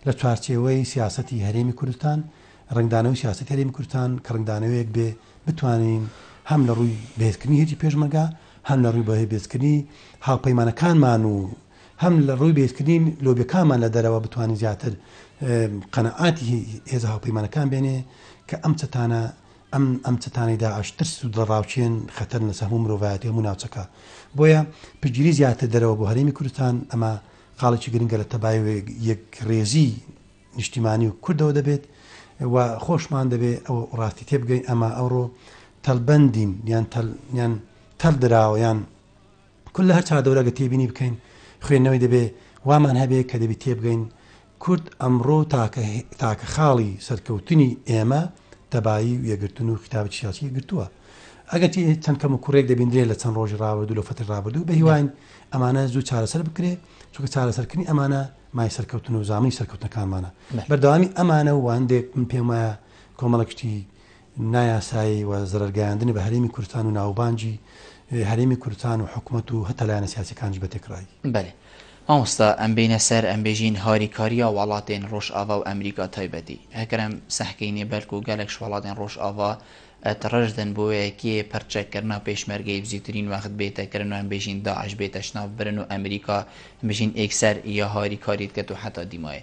S2: لە چوارچێوەی سیاسەتی هەرێمی کوردستان، ڕەنگدانەوەی سیاسەتی هەرێمی کوردستان کە ڕەنگدانەوەیەک بێ بتوانین هەم لە ڕووی بەهێزکردنی هێزی پێشمەرگە، هەم لە ڕووی بەهێزکردنی هاوپەیمانەکانمان و. هەم لە ڕووی بەهێزکردنی لۆبیەکانمان لە دەرەوە بتوانین زیاتر قەناعاتی هێزە هاوپەیمانەکان بێنێ کە ئەم چەتانە ئەم ئەم چەتانەی داعش ترس و دڵەڕاوکێن خەتەرن لەسەر هەموو مرۆڤایەتی هەموو ناوچەکە بۆیە پشتگیری زیاتر دەرەوە بۆ هەرێمی کوردستان ئەمە قاڵێکی گرنگە لە تەبای یەکڕێزی نیشتیمانی و کوردەوە دەبێت و خۆشمان دەبێ ئەو ڕاستی تێبگەین ئەمە ئەوڕۆ تەلبەندین یان تەل یان تەل دراوە یان کورد لە هەر چاردەورە گەر تێبینی بکەین خوێندنەوەی دەبێ وامان هەبێ کە دەبی تێبگەین کورد ئەمڕۆ تاکە تاکە خاڵی سەرکەوتنی ئێمە تەبایی و یەگرتن و خیتابی سیاسی گرتووە ئەگەرچی چەند کەم و کوڕێک دەبیندرێ لە چەند ڕۆژی ڕابردوو لە فەتی ڕابردوو بە هیواین ئەمانە زوو چارەسەر بکرێ چونکە چارەسەرکردنی ئەمانە مای سەرکەوتن و زامنی سەرکەوتنەکانمانە بەردەوامی ئەمانە و واندێک من پێم وایە کۆمەڵە کشتی نایاسایی و زەرەرگەیاندنی بە هەرێمی کوردستان و ناوبانگی هەرێمی کوردستان و حکومەت و هەتا لایەنە سیاسیەکانیش بە تێکڕایی. بەلێ
S1: مامۆستا ئەم بینە سەر ئەم بێژین هاری کاریا واڵاتێن ڕۆژ ئاڤا و ئەمریکا تایبەتی ئەکرەم سەحکەینێ بەلکو گەلەکش واڵاتێن ڕۆژ ئاڤا ئەت ڕەش دەن بۆیە کێ پەر چەک کەرنا پێشمەرگەی بزیوترین وەخت بێتە کرن و ئەم بێژین داعش بێتە شناف برن و ئەمریکا بژین ئێکسەر یا هاری کاریت کەت و حەتا دیمایێ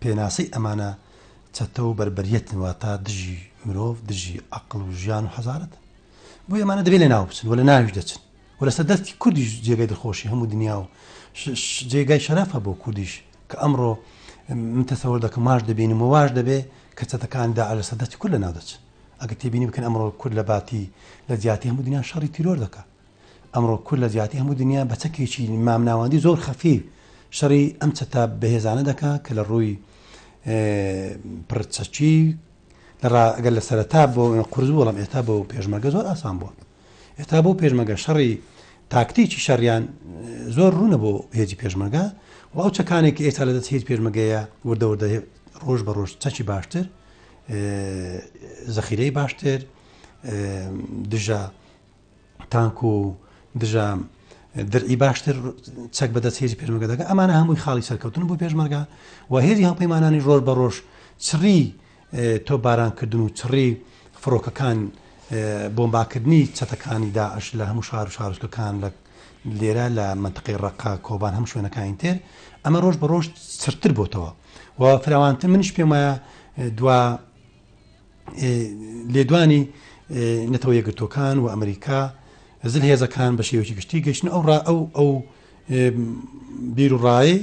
S2: پێناسەی ئەمانە چەتە و بەربەریەتن واتە دژی مرۆڤ دژی ئەقڵ و ژیان و حەزارەتن بۆ ئەمانە دەبێت لە ناو بچن و لە ناویش دەچن و لەسەر دەستی کوردیش جێگەی دڵخۆشی هەموو دنیا و جێگای شەرافە بۆ کوردیش کە ئەمڕۆ من تەسەوەر دەکەم ماش دەبینم و واش دەبێ کە چەتەکان دا لە سەدەتی کورد لە ناو دەچن ئەگە تێبینی بکەن ئەمڕۆ کورد لە باتی لە جیاتی هەموو دنیا شەڕی تیرۆر دەکە ئەمڕۆ کورد لە جیاتی هەموو دنیا بە چەکێکی مامناوەندی زۆر خەفی شەڕی ئەم چەتە بەهێزانە دەکا کە لە ڕووی پرچەکی لەگەر لە سەرتا بۆ قرز بووڵم ئێستا بۆ پێشمەگە زۆر ئاسان بووە ئێستا بۆ پێشمەگە شەڕی تاکتێکی شەڕیان زۆر ڕوونە بۆ هێزی پێشمەگە و ئەو چەکانێک ئێستا لە دەست هێز پێشمەگەیە وردەوردە ڕۆژ بە ڕۆژ چەکی باشتر زەخیرەی باشتر دژە تانک و دژە درعی باشتر چەک بەدەست هێزی پێشمەگە دەکە ئەمانە هەمووی خاڵی سەرکەوتن بۆ پێشمەرگە و هێزی هەڵپەیمانانی ڕۆژ بە ڕۆژ چڕی تۆ بارانکردن و چڕی فڕۆکەکان بۆمباکردنی چەتەکانی داعش لە هەموو شار و شارستەکان لە لێرە لە منتقی ڕقا کۆبان هەم شوێنەکانی تێر ئەمە ڕۆژ بە ڕۆژ سرتر بۆتەوە و فراوانتر منش پێم وایە دوا لێدوانی نەتەوە یەکگرتوەکان و ئەمریکا زل هێزەکان بە شێوەی گشتی گەشتن ئەو ڕا ئەو ئەو بیر و ڕایە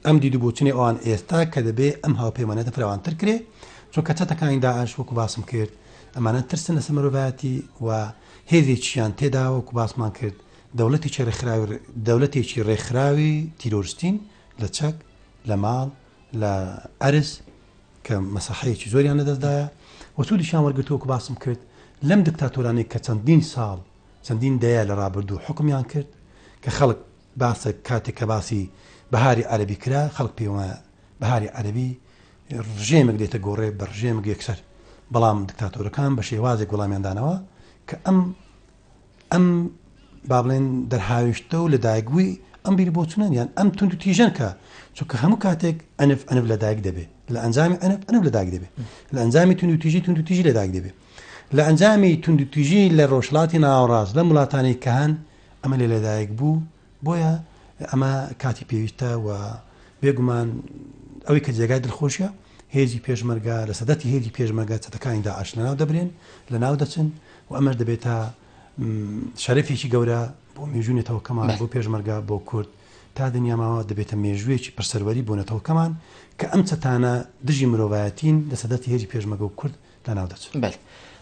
S2: ئەم دید و بۆچنی ئەوان ئێستا کە دەبێ ئەم هاوپەیمانەتە فراوانتر کرێ چۆن کە چەتەکانی داعش وەکو باسم کرد ئەمانە ترسن لە سەمەرۆڤایەتی و هێزێکیان تێدا وەکو باسمان کرد دەولەتێکی ڕێکخراوی دەولەتێکی ڕێکخراوی تیرۆرستین لە چەک لە ماڵ لە عەرز کە مەسەحەیەکی زۆریان لە دەستدایە و سوودیشیان وەرگرتووە وەکو باسم کرد لەم دکتاتۆرانەی کە چەندین ساڵ چەندین دەیە لە ڕابردوو حوکمیان کرد کە خەڵک باسە کاتێک کە باسی بەهاری عەربی کرا خەڵک پێ وایە بەهاری عەربی ڕژێمێک دێتە گۆڕێ بە ڕژێمێک یەکسەر بەڵام دکتاتۆرەکان بە شێوازێک وەڵامیاندانەوە کە ئەم ئەم با بڵێن دەرهاویشتە و لەدایکبووی ئەم بیر بۆچونە یان ئەم تونند و تیژەن کە چونکە هەموو کاتێک ئەنف ئەنف لەدایک دەبێت لە ئەنجامی ئەنف ئەنف لەدایک دەبێت لە ئەنجامی تونند و تیژی تونند و تیژی لەدایک دەبێت لە ئەنجامی تونند و تیژی لە ڕۆژلاتی ناوەڕاست لە وڵاتانی کە هەن ئەمە لە لەدایک بوو بۆیە ئەمە کاتی پێویستە و بێگومان ئەوی کە جێگای دڵخۆشە هێزی پێشمەرگا لە سەدەتی هێزی پێشمەگە چەتەکانی داعش لەناو دەبرێن لە ناو دەچن و ئەمەش دەبێتە شەرفێکی گەورە بۆ مێژوونێتەوەکەمان بۆ پێشمەرگا بۆ کورد تا دنیاماوە دەبێتە مێژوویەکی پرسەروەری بۆ نەتەوەکەمان کە ئەم چەتانە دژی مرۆڤایەتین لە سەدەتی هێزی پێشمەگە و کورد لەناو دەچن. بەل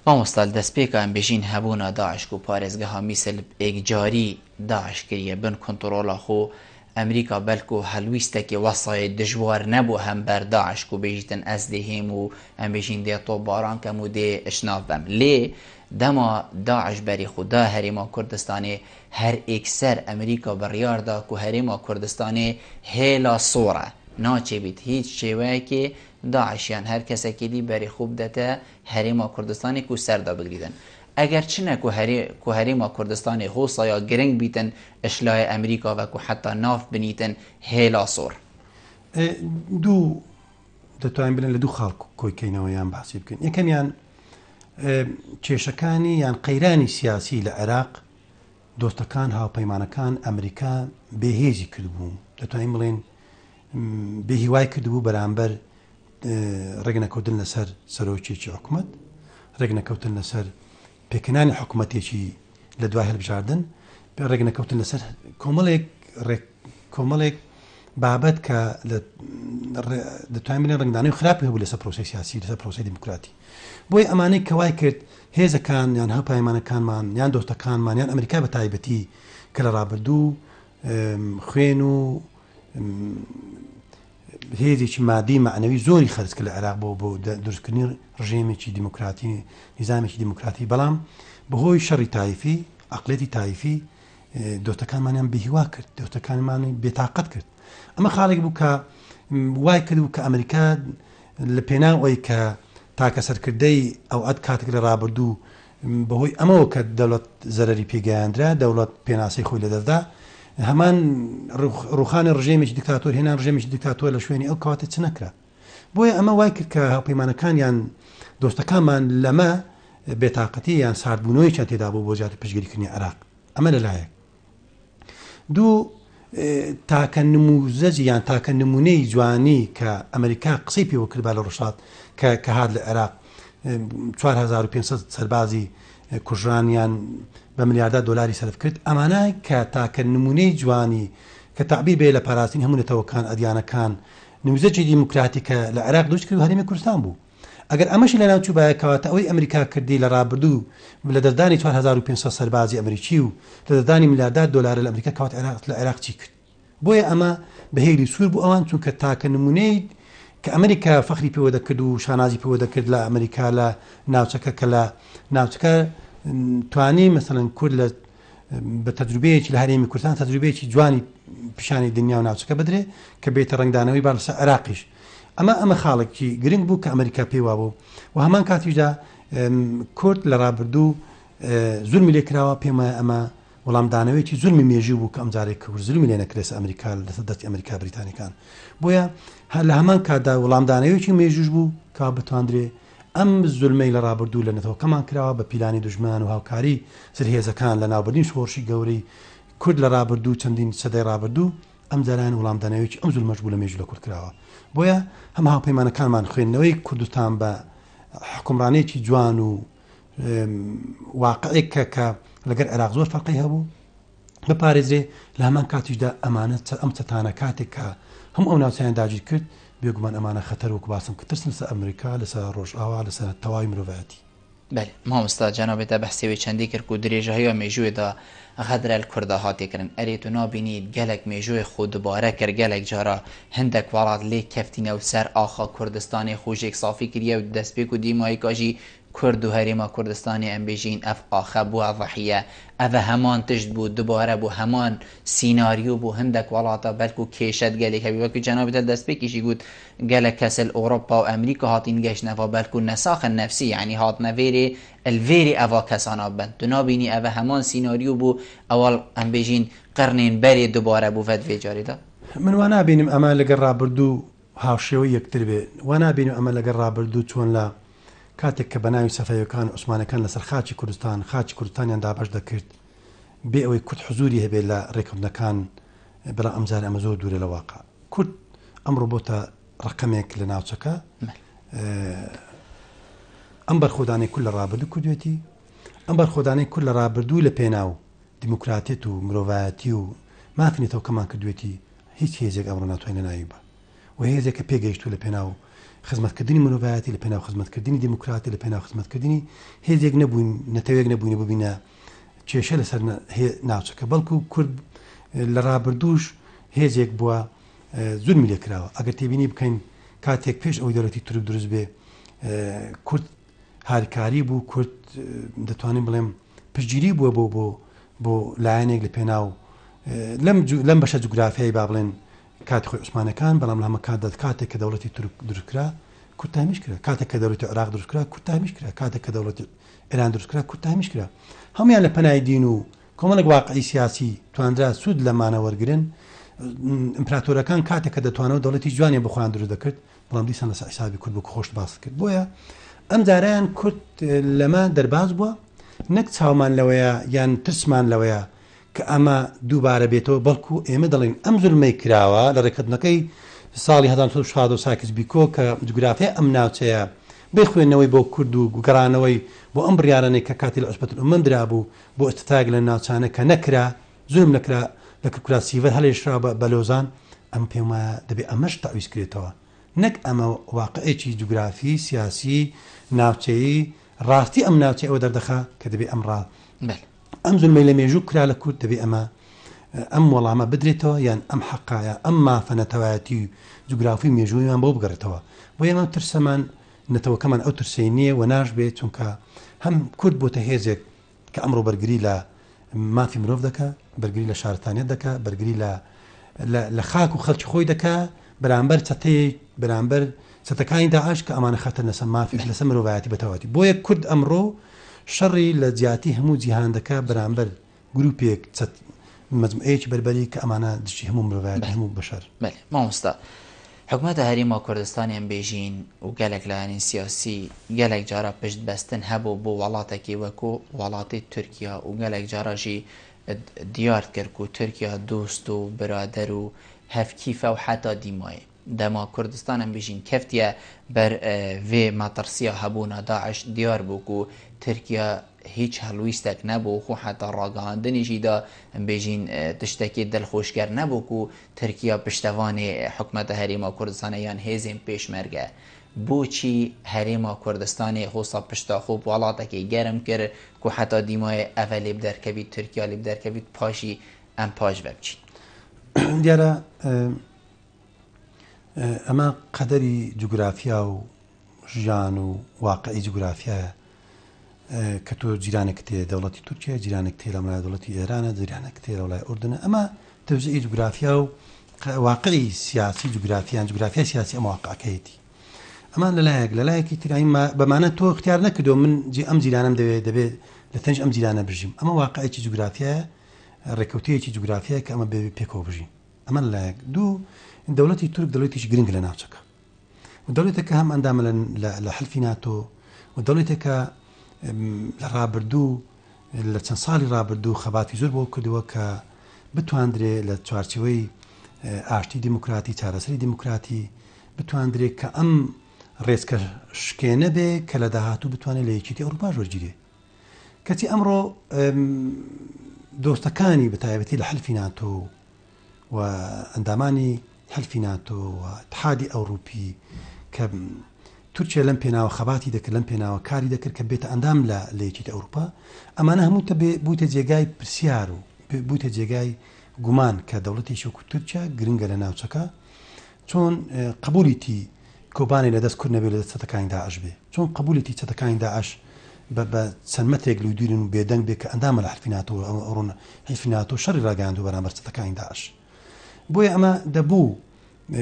S2: مامۆستا
S1: دەسپێکان بژین هەبونا داعش کو پارێزگەها میسل ئێکجاری داعش کریە بن کونتڕۆلا خو ئەمریکا بەلکو هەلویستەکی وەسایت دژوار نەبو هەم بەر داعش کو بژیتن ئەز دێ هێم و ئەم بژین دێ تۆپ باران کەم و دێ ئشناف بەم لێ دەما داعش بەری خو دا هەرێما کوردستانێ هەر ئێکسەر ئەمریکا بڕیار دا کو هەرێما کوردستانێ هێلا سۆرە ناچێبیت هیچ شێوەیەکێ داعش یان هەر کەسەکی دی بەریخو بدەتە هەرێم و کوردستانێک و سەردا بگریدن. ئەگەر چنە کو هەرێ هەرێم و کوردستانێ هو سایا گرنگ بیتن اشلاێ ئەمریکا وە کو حەتا ناف بنیتن هێلا سۆر. ئێ
S2: دوو دەتوانین بلێن لە دوو خاڵ کۆی کەینەوە یان باسی بکەین. یەکەمیان ئێ کێشەکانی یان قەیرانی سیاسی لە عێراق دۆستەکان، هاوپەیمانەکان، ئەمریکا بێ هێزی کردبوو، دەتوانین بڵێین بێ هیوای کردبوو بەرامبەر ڕێکنەکەوتن لەسەر سەرۆکێکی حکومەت، ڕێکنەکەوتن لەسەر پێکهێنانی حکومەتێکی لە دوای هەلبژاردن، ڕێکنەکەوتن لەسەر کۆمەڵێک ڕێک کۆمەڵێک بابەت کە دەتوانین بڵێن ڕەنگدانەوەی خراپی هەبوو لەسەر پرۆسەی سیاسی لەسەر پرۆسەی دیموکراتی بۆی ئەمانەی کە وای کرد هێزەکان یان هاوپایمانەکانمان یان دۆستەکانمان یان ئەمریکا بە تایبەتی کە لە ڕابردوو خوێن و هێزێکی مادی معنەوی زۆری خەرج کە لە عێراق بۆ بۆ دروستکردنی ڕژێمێکی دیموکراتی نیزانێکی دیموکراتی بەڵام بەهۆی شەڕی تایفی عقلێتی تایفی دۆتەکانمانیان بهیوا کرد دۆتەکانمانی بێتاقەت کرد ئەمە خاڵێک بوو کە وای کرد و کە ئەمریکا لە پێنا ئەوی کە تاکە سەرکردەی ئەو ئەت کاتێک لە ڕابردوو بەهۆی ئەمەوە کە دەوڵەت زەرری پێگەیاندرا دەوڵەت پێناسی خۆی لە دەستدا هەمان ڕوخانی ڕژێمیش دیکتاتۆر هێنان ڕژێمیش دیکتاتۆر لە شوێنی ئەو کاتێ چ نەکرا بۆیە ئەمە وای کرد کە هاوپەیمانەکان یان دۆستەکانمان لەمە بێتاقەتی یان ساردبوونەوەی چەند تێدا بوو بۆ زیاتر پشگیریکردنی عراق ئەمە لەلایەک دوو تاکە نموزەجی یان تاکە نمونەی جوانی کە ئەمریکا قسەی پێوە کردبا لە ڕشاد کە کە هاات لە عێراق 4500 سەربازی کوژرانیان بە ملیاردا دلاری سرف کرد ئەمانە کە تاکە نمونەی جوانی کە تعبیر بێ لە پاراستین هەمونەتەوەکان ئەدیانەکان نموزەجی دیموکراتی کە لە عێراق دروست کرد هەرێمی کوردستان بوو ئەگەر ئەمەشی لەناو چووبایە کەواتە ئەوەی ئەمریکا کردی لە ڕابردوو لە دەستدانی چوار هەزار و پێنج سەد سەربازی ئەمریکی و لە دەستدانی ملیاردار دۆلارە لە ئەمریکا کەواتە عێراق لە عێراق چی کرد بۆیە ئەمە بە هێلی سوور بوو ئەوان چونکە تاکە نمونەی کە ئەمریکا فەخری پێوە دەکرد و شانازی پێوە دەکرد لە ئەمریکا لە ناوچەکە کە لە ناوچەکە توانی مەسەن کورد لە بە تەجروبەیەکی لە هەرێمی کوردستان تەجروبەیەکی جوانی پیشانی دنیا و ناوچەکە بدرێ کە بێتە ڕنگدانەوەی باڵ لەسەر عراقیش ئەمە ئەمە خاڵێکی گرنگ بوو کە ئەمریکا پێیوا بوو و هەمان کاتیشدا کورد لە ڕابردوو زورمی لێ کراوە پێمە ئەمە وەڵامدانەوەیکی زورمی مێژی بوو کە ئەمجارێک کە زلمی لێ نەکرێس ئەمریکا لەسەر دەستی ئەمریکا بریتانەکان بۆیە هەر لە هەمان کاتدا وەڵامدانەوەیکی مێژوش بوو کا بتواندرێ ئەم زولمەی لە ڕابردوو لە نەتەوەکەمان کراوە بە پیلانی دوژمنان و هاوکاری زلهێزەکان لە ناوبردنی شۆڕشی گەورەی کورد لە ڕابردوو چەندین سەدەی ڕابردوو ئەم جارەیان وڵامدانەوەیەکی ئەم زولمەش بوو لە مێژوو لە کورد کراوە بۆیە هەم هاوپەیمانەکانمان خوێندنەوەی کوردستان بە حکومڕانێکی جوان و واقعێک کە کە لەگەر عێراق زۆر فەرقی هەبوو بپارێزرێ لە هەمان کاتیشدا ئەمانە ئەم چەتانە کاتێک کە هەم ئەو ناوچیان داگیر کرد بێگومان ئەمانە خەتەر وەکو باسم کە ترسن سە ئەمریکا لەسەر ڕۆژئاوا لەسەر تەواوی مرۆڤایەتی بەێ مامۆستا
S1: جەنابێتە بەحسێوەی چەندی کرد و درێژە هەیە مێژوێدا غەدرە لە کوردا هاتێکردن ئەرێت و نابینیت گەلک مێژوێ خۆ دوبارە کرد گەلک جارا هەندێک وڵات لێ کەفتینە و سەر ئاخا کوردستانی خۆشێک سافی کریە و دەستپێک و دیمایکاژی کورد و هەرێما کوردستانی ئەمبیژین ئەڤ ئاخە بوە ضحیە ئەڤە هەمان تشت بو دوبارە بو هەمان سیناریو بو هندەک وەڵاتا بەلکو کێشەت گەلێک هەبی وەک جەنابت هەر دەست پێکیشی گوت گەلەک کەس ل ئۆرۆپا و ئەمریکا هاتین گەشتن ئەڤا بەلکو نەساخن نەفسی یانی هاتنە ڤێرێ ل ڤێرێ ئەڤا کەسانا بن تو نابینی ئەڤە هەمان سیناریو بو ئەوەڵ ئەمبیژین قرنێن بەرێ دوبارە بو ڤەد ڤێجارێدا. من وانابینم
S2: ئەمە لەگەر رابردو هاوشێوەی یەکتر بێ وانابینم ئەمە لەگەر رابردو چۆن لە. کاتێک کە بەناوی سەفەویەکان و عوسمانەکان لەسەر خاکی کوردستان خاکی کوردستانیان دابەش دەکرد بێ ئەوەی کورد حزوری هەبێت لە رێککەوتنەکان بەڵام ئەم جارە ئەمە زۆر دوورە لە واقع کورد ئەمڕۆ بۆتە رەقەمێک لە ناوچەکە ئەم بەرخۆدانەی کورد لە رابردوو کردوێتی ئەم بەرخۆدانەی کورد لە رابردوو لە پێناو دیموکراتێت و مرۆڤایەتی و مافی نێتەوەکەمان کردوێتی هیچ هێزێک ئەمڕۆ ناتوانێت ناوی بە و هێزێکە پێگەیشتوو لە پێناو خزمەتکردنی مرۆڤایەتی لە پێناو خزمەتکردنی دیموکراتی لە پێناو خزمەتکردنی هێزێک نەبووین نەتەوێک نەبووین ببینە کێشە لەسەر ناوچەکە بەڵکو کورد لە ڕابردووش هێزێک بووە زورمی لێکراوە ئەگەر تێبینی بکەین کاتێک پێش ئەو دەرەتی تورک دروست بێ کورد هارکاری بوو کورد دەتوانین بڵێم پشگیری بووە بۆ بۆ بۆ لایەنێک لە پێناو لەم لەم بەشە جوگرافیایی با بڵێن کاتی خۆی عوسمانەکان، بەڵام لە هەمە کاتدا کاتێک کە دەوڵەتی تورک دروست کرا، کورد تامیش کرا، کاتێک کە دەوڵەتی عێراق دروست کرا، کورد تامیش کرا، کاتێک کە دەوڵەتی ئێران دروست کرا، کورد تامیش کرا. هەموویان لە پەنای دین و کۆمەڵێک واقعی سیاسی توانرا سوود لەمانە وەرگرن. ئیمپراتۆرەکان کاتێک کە دەتوانەوە دەوڵەتی جوانیان بۆ خۆیان دروست دەکرد، بەڵام دیسان لەسەر حیسابی کورد بوو کە خۆشت باست کرد. بۆیە ئەم جارەیان کورد لەمە دەرباز بووە، نەک چاومان لەوەیە یان ترسمان لەوەیە کە ئەمە دووبارە بێتەوە، بەڵکو ئێمە دەڵێین ئەم زوڵمەی کراوە لە ڕێککەوتنەکەی ساڵی هەزار و نۆ سەد و شازدە و سایکس بیکۆ کە جوگرافیای ئەم ناوچەیە بێ خوێندنەوەی بۆ کورد و گەڕانەوەی بۆ ئەم بڕیارانەی کە کاتی لە عوسبەت الامەم درابوو بۆ ئیستتاک لە ناوچانە کە نەکرا زوڵم نەکرا لە کرکورا سیڤەر هەلێشرا بە بە لۆزان ئەمە پێم وایە دەبێ ئەمەش تەعویز کرێتەوە نەک ئەمە واقعێکی جوگرافی سیاسی ناوچەیی ڕاستی ئەم ناوچەی ئەوە دەردەخا کە دەبێ ئەم ڕا. ئەم زولمەی لە مێژوو کرا لە کورد دەبێ ئەمە ئەم وەڵامە بدرێتەوە یان ئەم حەقایە ئەم مافە نەتەوایەتی و جوگرافی مێژوویمان بۆ بگەڕێتەوە بۆ ئێمە ترسەمان نەتەوەکەمان ئەو ترسەی نییە و ناش بێت چونکە هەم کورد بۆتە هێزێک کە ئەمڕۆ بەرگری لە مافی مرۆڤ دەکە بەرگری لە شارستانیت دەکە بەرگری لە لە خاک و خەڵکی خۆی دەکە بەرامبەر چەتەیەک بەرامبەر چەتەکانی داعش کە ئەمانە خەتەرنەسە مافیش لەسەر مرۆڤایەتی بەتەواوەتی بۆیە کورد ئەمڕۆ شەڕی لە جیاتی هەموو جیهان دەکا بەرامبەر گروپێک چەت مەجموعەیەکی بەربەری کە ئەمانە دژی هەموو مرۆڤایەتی هەموو بەشەر. بەلێ مامۆستا
S1: حکومەتە هەریمە کوردستانیان بیژین و گەلەک لایەنی سیاسی گەلەک جارا پشت بەستن هەبوو بۆ وەڵاتەکی وەکو وەڵاتی تورکیا و گەلەک جاراژی دیارت کرد کو تورکیا دوست و برادەر و هەڤکیفە و حەتا دیمایێ دەما کوردستانم بیژین کەفتیە بەر ڤێ مەتڕسیا هەبوونا داعش دیار بوو کو تورکیا هیچ هەڵویستەک نەبوو خو حەتا ڕاگەهاندنیشی دا بیژین تشتەکێ دلخوشکەر نەبوو کو تورکیا پشتەڤانێ حکومەتە هەرێما کوردستانە یان هێزێن پێشمەرگە بوچی هەرێما کوردستانێ هوسا پشتا خو بوڵاتەکێ گەرم کر کو حەتا دیمایێ ئەڤە لێ بدەرکەڤید تورکیا لێ بدەرکەڤید پاشی ئەم پاش ڤە بچین. دیارە
S2: ئەمە قەدەری جوگرافیا و ژیان و واقعی جوگرافیایە کە تۆ جیرانێکت هەیە دەوڵەتی تورکیە جیرانێک تێ لە مەلا دەوڵەتی ئێرانە جیرانێک تێ لە وڵای ئوردنە ئەمە تەوزیعی جوگرافیا و واقعی سیاسی جوگرافیان جوگرافیا سیاسی ئەم واقعەکەیەتی ئەمان لەلایەک لەلایەکی تراین بەمانە تۆ اختیار نەکردو من جی ئەم جیرانم دەوێت دەبێت لە تەنج ئەم جیرانە بژیم ئەمە واقعێکی جوگرافیایە ڕێکوتەیەکی جوگرافیای کە ئەمە بێ پێکەوە بژین ئەمە لایەک دوو دەوڵەتی تورک دەڵێتیش گرنگ لە ناوچەکە و دەوڵەتێکە هەم ئەندامە لە حلفی ناتۆ و دەوڵەتێکە لە ڕابردوو لە چەند ساڵی ڕابردوو خەباتی زۆر بۆ کردووە کە بتواندرێ لە چوارچەوەی ئاشتی دیموکراتی چارەسەری دیموکراتی بتواندرێت کە ئەم ڕێزکە شکێنە بێ کە لە داهاتوو بتوانێت لە یەکێتی ئەوروپا ژۆرگیرێ کەچی ئەمڕۆ دۆستەکانی بەتایبەتی لە حلفی ناتۆ و ئەندامانی حلفی ناتۆ و ئیتحادی ئەوڕوپی کە تورکیا لەم پێناوە خەباتی دەکرد لەم پێناوە کاری دەکرد کە بێتە ئەندام لە لە یەکێتی ئەوروپا ئەمانە هەموو تە بێ بوویتە جێگای پرسیار و بوویتە جێگای گومان کە دەوڵەتێکی وەکو تورکیا گرنگە لە ناوچەکە چۆن قبولیتی کۆبانێ لە دەست کورد نەبێ لە دەست چەتەکانی داعش بێ؟ چۆن قبولیتی چەتەکانی داعش بە بە چەند مەترێک لودیرن و بێدەنگ بێ کە ئەندامە لە حلفی ناتۆ و ئەمە ئەڕۆن حلفی ناتۆ شەڕی ڕاگەیاندوە بەرامبەر چەتەکانی داعش بۆیە ئەمە دەبوو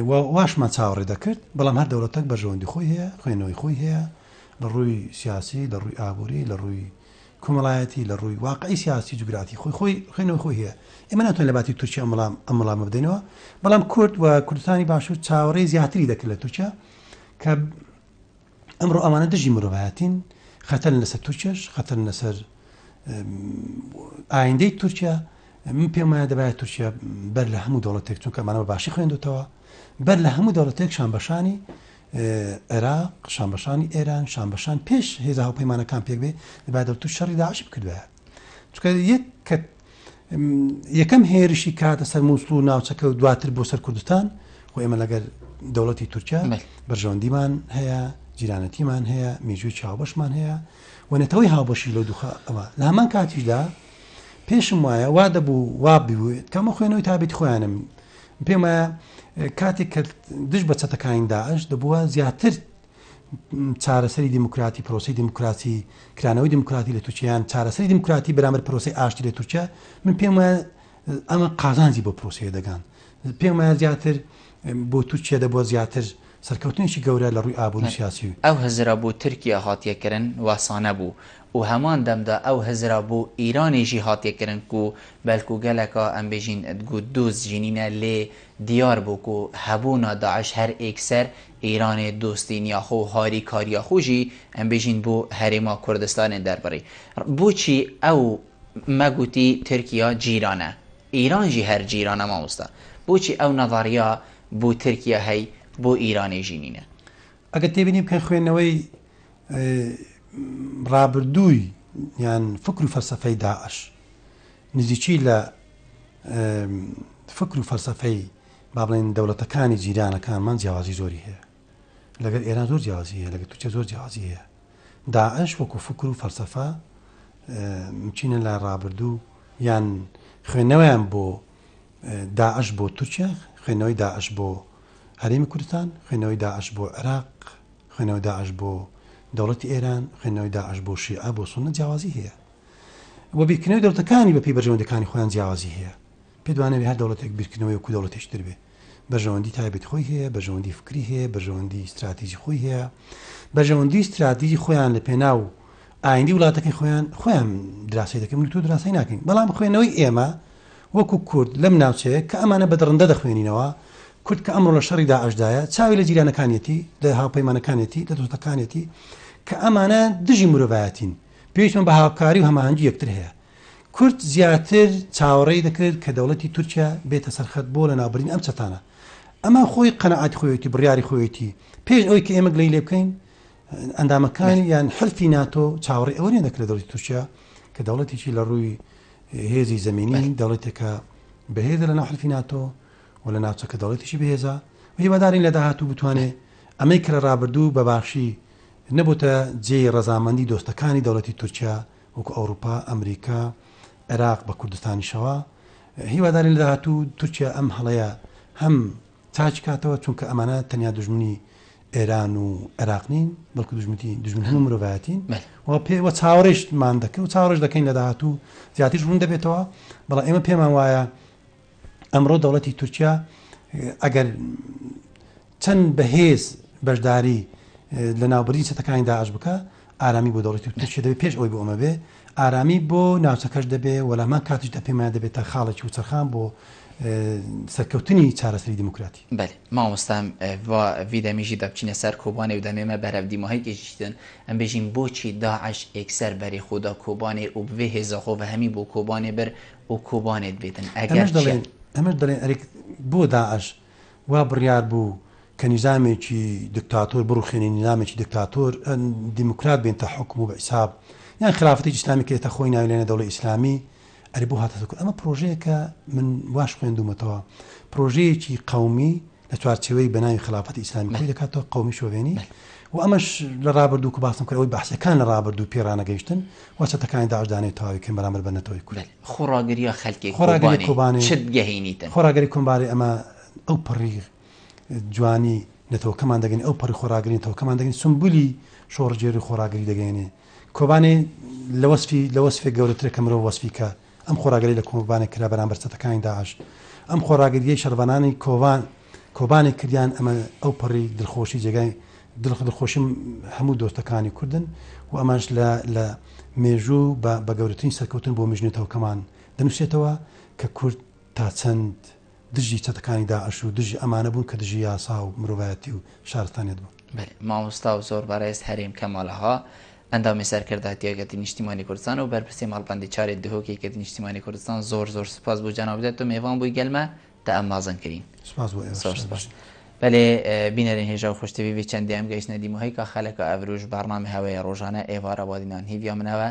S2: و واشمان چاوەڕێ دەکرد بەڵام هەر دەوڵەتەک بەرژەوەندی خۆی هەیە خوێنەوەی خۆی هەیە لە ڕووی سیاسی لە ڕووی ئابووری لە ڕووی کۆمەڵایەتی لە ڕووی واقعی سیاسی جوگرافی خۆی خۆی خوێنەوەی خۆی هەیە ئێمە ناتوانین لە باتی تورکیا ئەم وڵام ئەم وڵامە بدەینەوە بەڵام کورد و کوردستانی باشوور چاوەڕێی زیاتری دەکرد لە تورکیا کە ئەمڕۆ ئەوانە دژی مرۆڤایەتین خەتەن لەسەر تورکیش خەتەن لەسەر ئایندەی تورکیا من پێم وایە دەبایە تورکیا بەر لە هەموو دەوڵەتێک چونکە مانەوە باشی خوێندوتەوە بەر لە هەموو دەوڵەتێکشان بەشانی عێراق شانبەشانی ئێران شانبەشان پێش هێزە هاوپەیمانەکان پێک بێ دەبا دەوتو شەڕی داعش بکردایە چکە یەک کە یەکەم هێرشی کاتە سەر مووسڵ و ناوچەکە و دواتر بۆ سەر کوردستان خۆ ئێمە لەگەر دەوڵەتی تورکیا بەرژەوەندیمان هەیە جیرانەتیمان هەیە میژوی چاوبەشمان هەیە و نەتەوەی هاوبەشی لەو دوخە ئەوە لە هەمان کاتیشدا پێشم وایە وا دەبوو وا ببووێت کەمە خوێنەوەی تابێت خۆیانم پێم وایە کاتێک کە دژ بە چەتەکانی داعش دەبووە زیاتر چارەسەری دیموکراتی پرۆسی دیموکراتی کرانەوەی دیموکراتی لە تووچیان چارەسەری دیموکراتی بەرامەر پرۆسی ئاشتی لە تورکیا من پێم وایە ئەمە قازانجی بۆ پرۆسیە دەگان پێم وایە زیاتر بۆ تورکیا دەبووە زیاتر سەرکەوتنێکی گەورە لە ڕووی ئابووری و سیاسی و. ئەو هزرە بۆ
S1: تورکیا هاتیە کرن واسانە بوو و هەمان دەمدا ئەو هزرە بۆ ئیرانێژی هاتیە کرن کو بەلکو گەلەکا ئەم بێژین دگوت دۆست ژینینە لێ دیار بوو کو هەبوونا داعش هەر ئێک سەر ئیرانێ دۆستینیا خۆ و هاری کاریا خۆ ژی ئەم بێژین بۆ هەرێما کوردستانێ دەربڕی بۆچی ئەو مەگوتی تورکیا جیرانە ئیران ژی هەر جیرانە مامۆستا بۆچی ئەو نەظەڕیە بۆ ترکیە هەی بۆ ئیرانێ ژی نینە. ئەگەر تێبینی
S2: بکەین خوێندنەوەی ڕابردووی یان فکر و فەلسەفەی داعش نزیکی لە فکر و فەلسەفەی با بڵێین دەوڵەتەکانی جیرانەکانمان جیاوازی زۆری هەیە. لەگەل ئێران زۆر جیاوازی هەیە لەگەل تورکیا زۆر جیاوازی هەیە داعش وەکو فکر و فەلسەفە چینە لە ڕابردوو یان خوێندنەوەیان بۆ داعش بۆ تورکیا خوێندنەوەی داعش بۆ هەرێمی کوردستان خوێندنەوەی داعش بۆ عێراق خوێندنەوەی داعش بۆ دەوڵەتی ئێران خوێندنەوەی داعش بۆ شیعە بۆ سونە جیاوازی هەیە و بیرکردنەوەی دەوتەکانی بەپی بەرژەوەندەکانی خۆیان جیاوازی هەیە پێت وانەبێ هەر دەوڵەتێک بیرکردنەوەی وەکوو دەوڵەتێکی تر بێ، بەرژەوەندی تایبەتی خۆی هەیە، بەرژەوەندی فکری هەیە، بەرژەوەندی ستراتیجی خۆی هەیە، بەرژەوەندی و ستراتیجی خۆیان لە پێناو ئایندی وڵاتەکەی خۆیان خۆیان دراسەی دەکەن و تۆ دراسەی ناکەین بەڵام خوێنەوەی ئێمە وەکو کورد لەم ناوچەیە کە ئەمانە بە دڕندە دەخوێنینەوە کورد کە ئەمڕۆ لە شەڕی داعشدایە چاوی لە جیرانەکانیەتی لە هاوپەیمانەکانێتی لە دۆستەکانێتی کە ئەمانە دژی مرۆڤایەتین پێویستمان بە هاوکاری و هەماهەنگی یەکتر هەیە کورد زیاتر چاوەڕێی دەکرد کە دەوڵەتی تورکیا بێتە سەر خەت بۆ لەناوبردنی ئەم چەتانە. ئەمە خۆی قەناعەتی خۆیەتی و بڕیاری خۆیەتی. پێش ئەوەی کە ئێمە گلەیی لێ بکەین، ئەندامەکانی یان حلفی ناتۆ چاوەڕێی ئەوە نین دەکرد لە دەوڵەتی تورکیا کە دەوڵەتێکی لە ڕووی هێزی زەمینی دەوڵەتێکە بەهێزە لەناو حلفی ناتۆ و لە ناوچەکە دەوڵەتیشی بەهێزە و هیوادارین لە داهاتوو بتوانێت ئەمەی کە لە ڕابردوو بە باشی نەبووتە جێی ڕەزامەندی دۆستەکانی دەوڵەتی تورکیا وەکو ئەوروپا، ئەمریکا، عێراق بە کوردستانیشەوە. هیوادارین لە داهاتوو تورکیا ئەم هەڵەیە هەم چاک کاتەوە، چونکە ئەمانە تەنیا دوژمنی ئێران و عێراق نین، بەڵکو دوژمنی دوژمن هەموو مرۆڤایەتین و پێ و چاوەڕێیشمان دەکرد و چاوەڕێش دەکەین لە داهاتوو زیاتریش ڕوون دەبێتەوە، بەڵام ئێمە پێمان وایە ئەمڕۆ دەوڵەتی تورکیا ئەگەر چەند بەهێز بەشداری لە ناوبردی چەتەکانی داعش بکە ئارامی بۆ دەوڵەتی تورکیا دەبێت پێش ئەوی بۆ ئەمە بێ ئارامی بۆ ناوچەکەش دەبێ وەلامان کاتیش دە پێمان دەبێت تا خاڵێکی و چرخان بۆ سەرکەوتنی چارەسەری دیموکراتی بەێ مامۆستام
S1: ڤیدەمیژی دەبچینە سەر کۆبانێ و دەمێمە بەرە دیماهیکیشتن ئەم بێژین بۆچی داعش ئێکسەر بەری خۆدا کۆبانێ و بێ هێزەخۆ بە هەمی بۆ کۆبانێ بەر و کوبانێت بێتن ئەگەر چیە.
S2: ئەمەش دەڵێن ئەرێ بۆ داعش وا بڕیار بوو کە نیزامێکی دکتاتۆر بڕوخێنێ نیزامێکی دکتاتۆر دیموکرات بێنتە حکم و بە ئیساب یان خرافتێکی ئیسلامی کە ئێستا خۆی ناوی لێنە دەوڵەی ئیسلامی ئەرێ بۆ هاتەتە کورد ئەمە پڕۆژەیەکە من واش خوێندومەتەوە پڕۆژەیەکی قەومی لە چوارچێوەی بەناوی خەڵافەتی ئیسلامی خۆی دەکاتەوە قەومی شۆڤێنی و ئەمەش لە ڕابردوو کە باسم کرد ئەوەی بەعسییەکان لە ڕابردوو پێی ڕانەگەیشتن و چەتەکانی داعش دانەوێت تەواوی بکەن بەرامبەر بە نەتەوەی کورد. خۆڕاگرییە خەلکێ
S1: خۆڕاگری کۆبانێ چت
S2: گەهینیتن.
S1: خۆڕاگری کۆمبارێ ئەمە
S2: ئەو پەڕی جوانی نەتەوەکەمان دەگەین ئەو پەڕی خۆڕاگری نەتەوەکەمان دەگەین سمبولی شۆڕژێری خۆڕاگری دەگەێنێ کۆبانێ لە وەسفی لە وەسفێک گەورەترە کە مرۆڤ وەسفی کە ئەم خۆڕاگری لە کۆبانێ کرا بەرامبەر چەتەکانی داعش. ئەم خۆڕاگرییەی شەڕڤانانی کۆبان کۆبانێ کردیان ئەمە ئەوپەڕی دڵخۆشی جێگای دڵ دڵخۆشی هەموو دۆستەکانی کوردن و ئەمانش لە لە مێژوو بە بە گەورەترین سەرکەوتن بۆ مژنوتەوەکەمان دەنووسێتەوە کە کورد تا چەند دژی چەتەکانی داعش و دژی ئەمانە بوون کە دژی یاسا و مرۆڤایەتی و شارستانیەت بوون. بەلێ مامۆستا و زۆر
S1: بەڕێز هەرێم کەمال ئاغا ئەندامی سەرکردایەتی یەکێتی نیشتیمانی کوردستان و بەرپرسی مەڵبەندی چاری دهۆک یەکێتی نیشتیمانی کوردستان زۆر زۆر سوپاس بۆ جەنابت تۆ مێڤان بووی گەلمە تا ئەم مازن کرین سوپاس بۆ ئێوەش زۆر سوپاس
S2: بەلێ
S1: بینەرین هێژا و خوشتەوی وی چەندیام گەیشتنە دیمو هەی کا خەلەکە ئەڤروش بەڕنامە هەوەیە ڕۆژانە ئێڤارە وادینان هیڤیا منەوە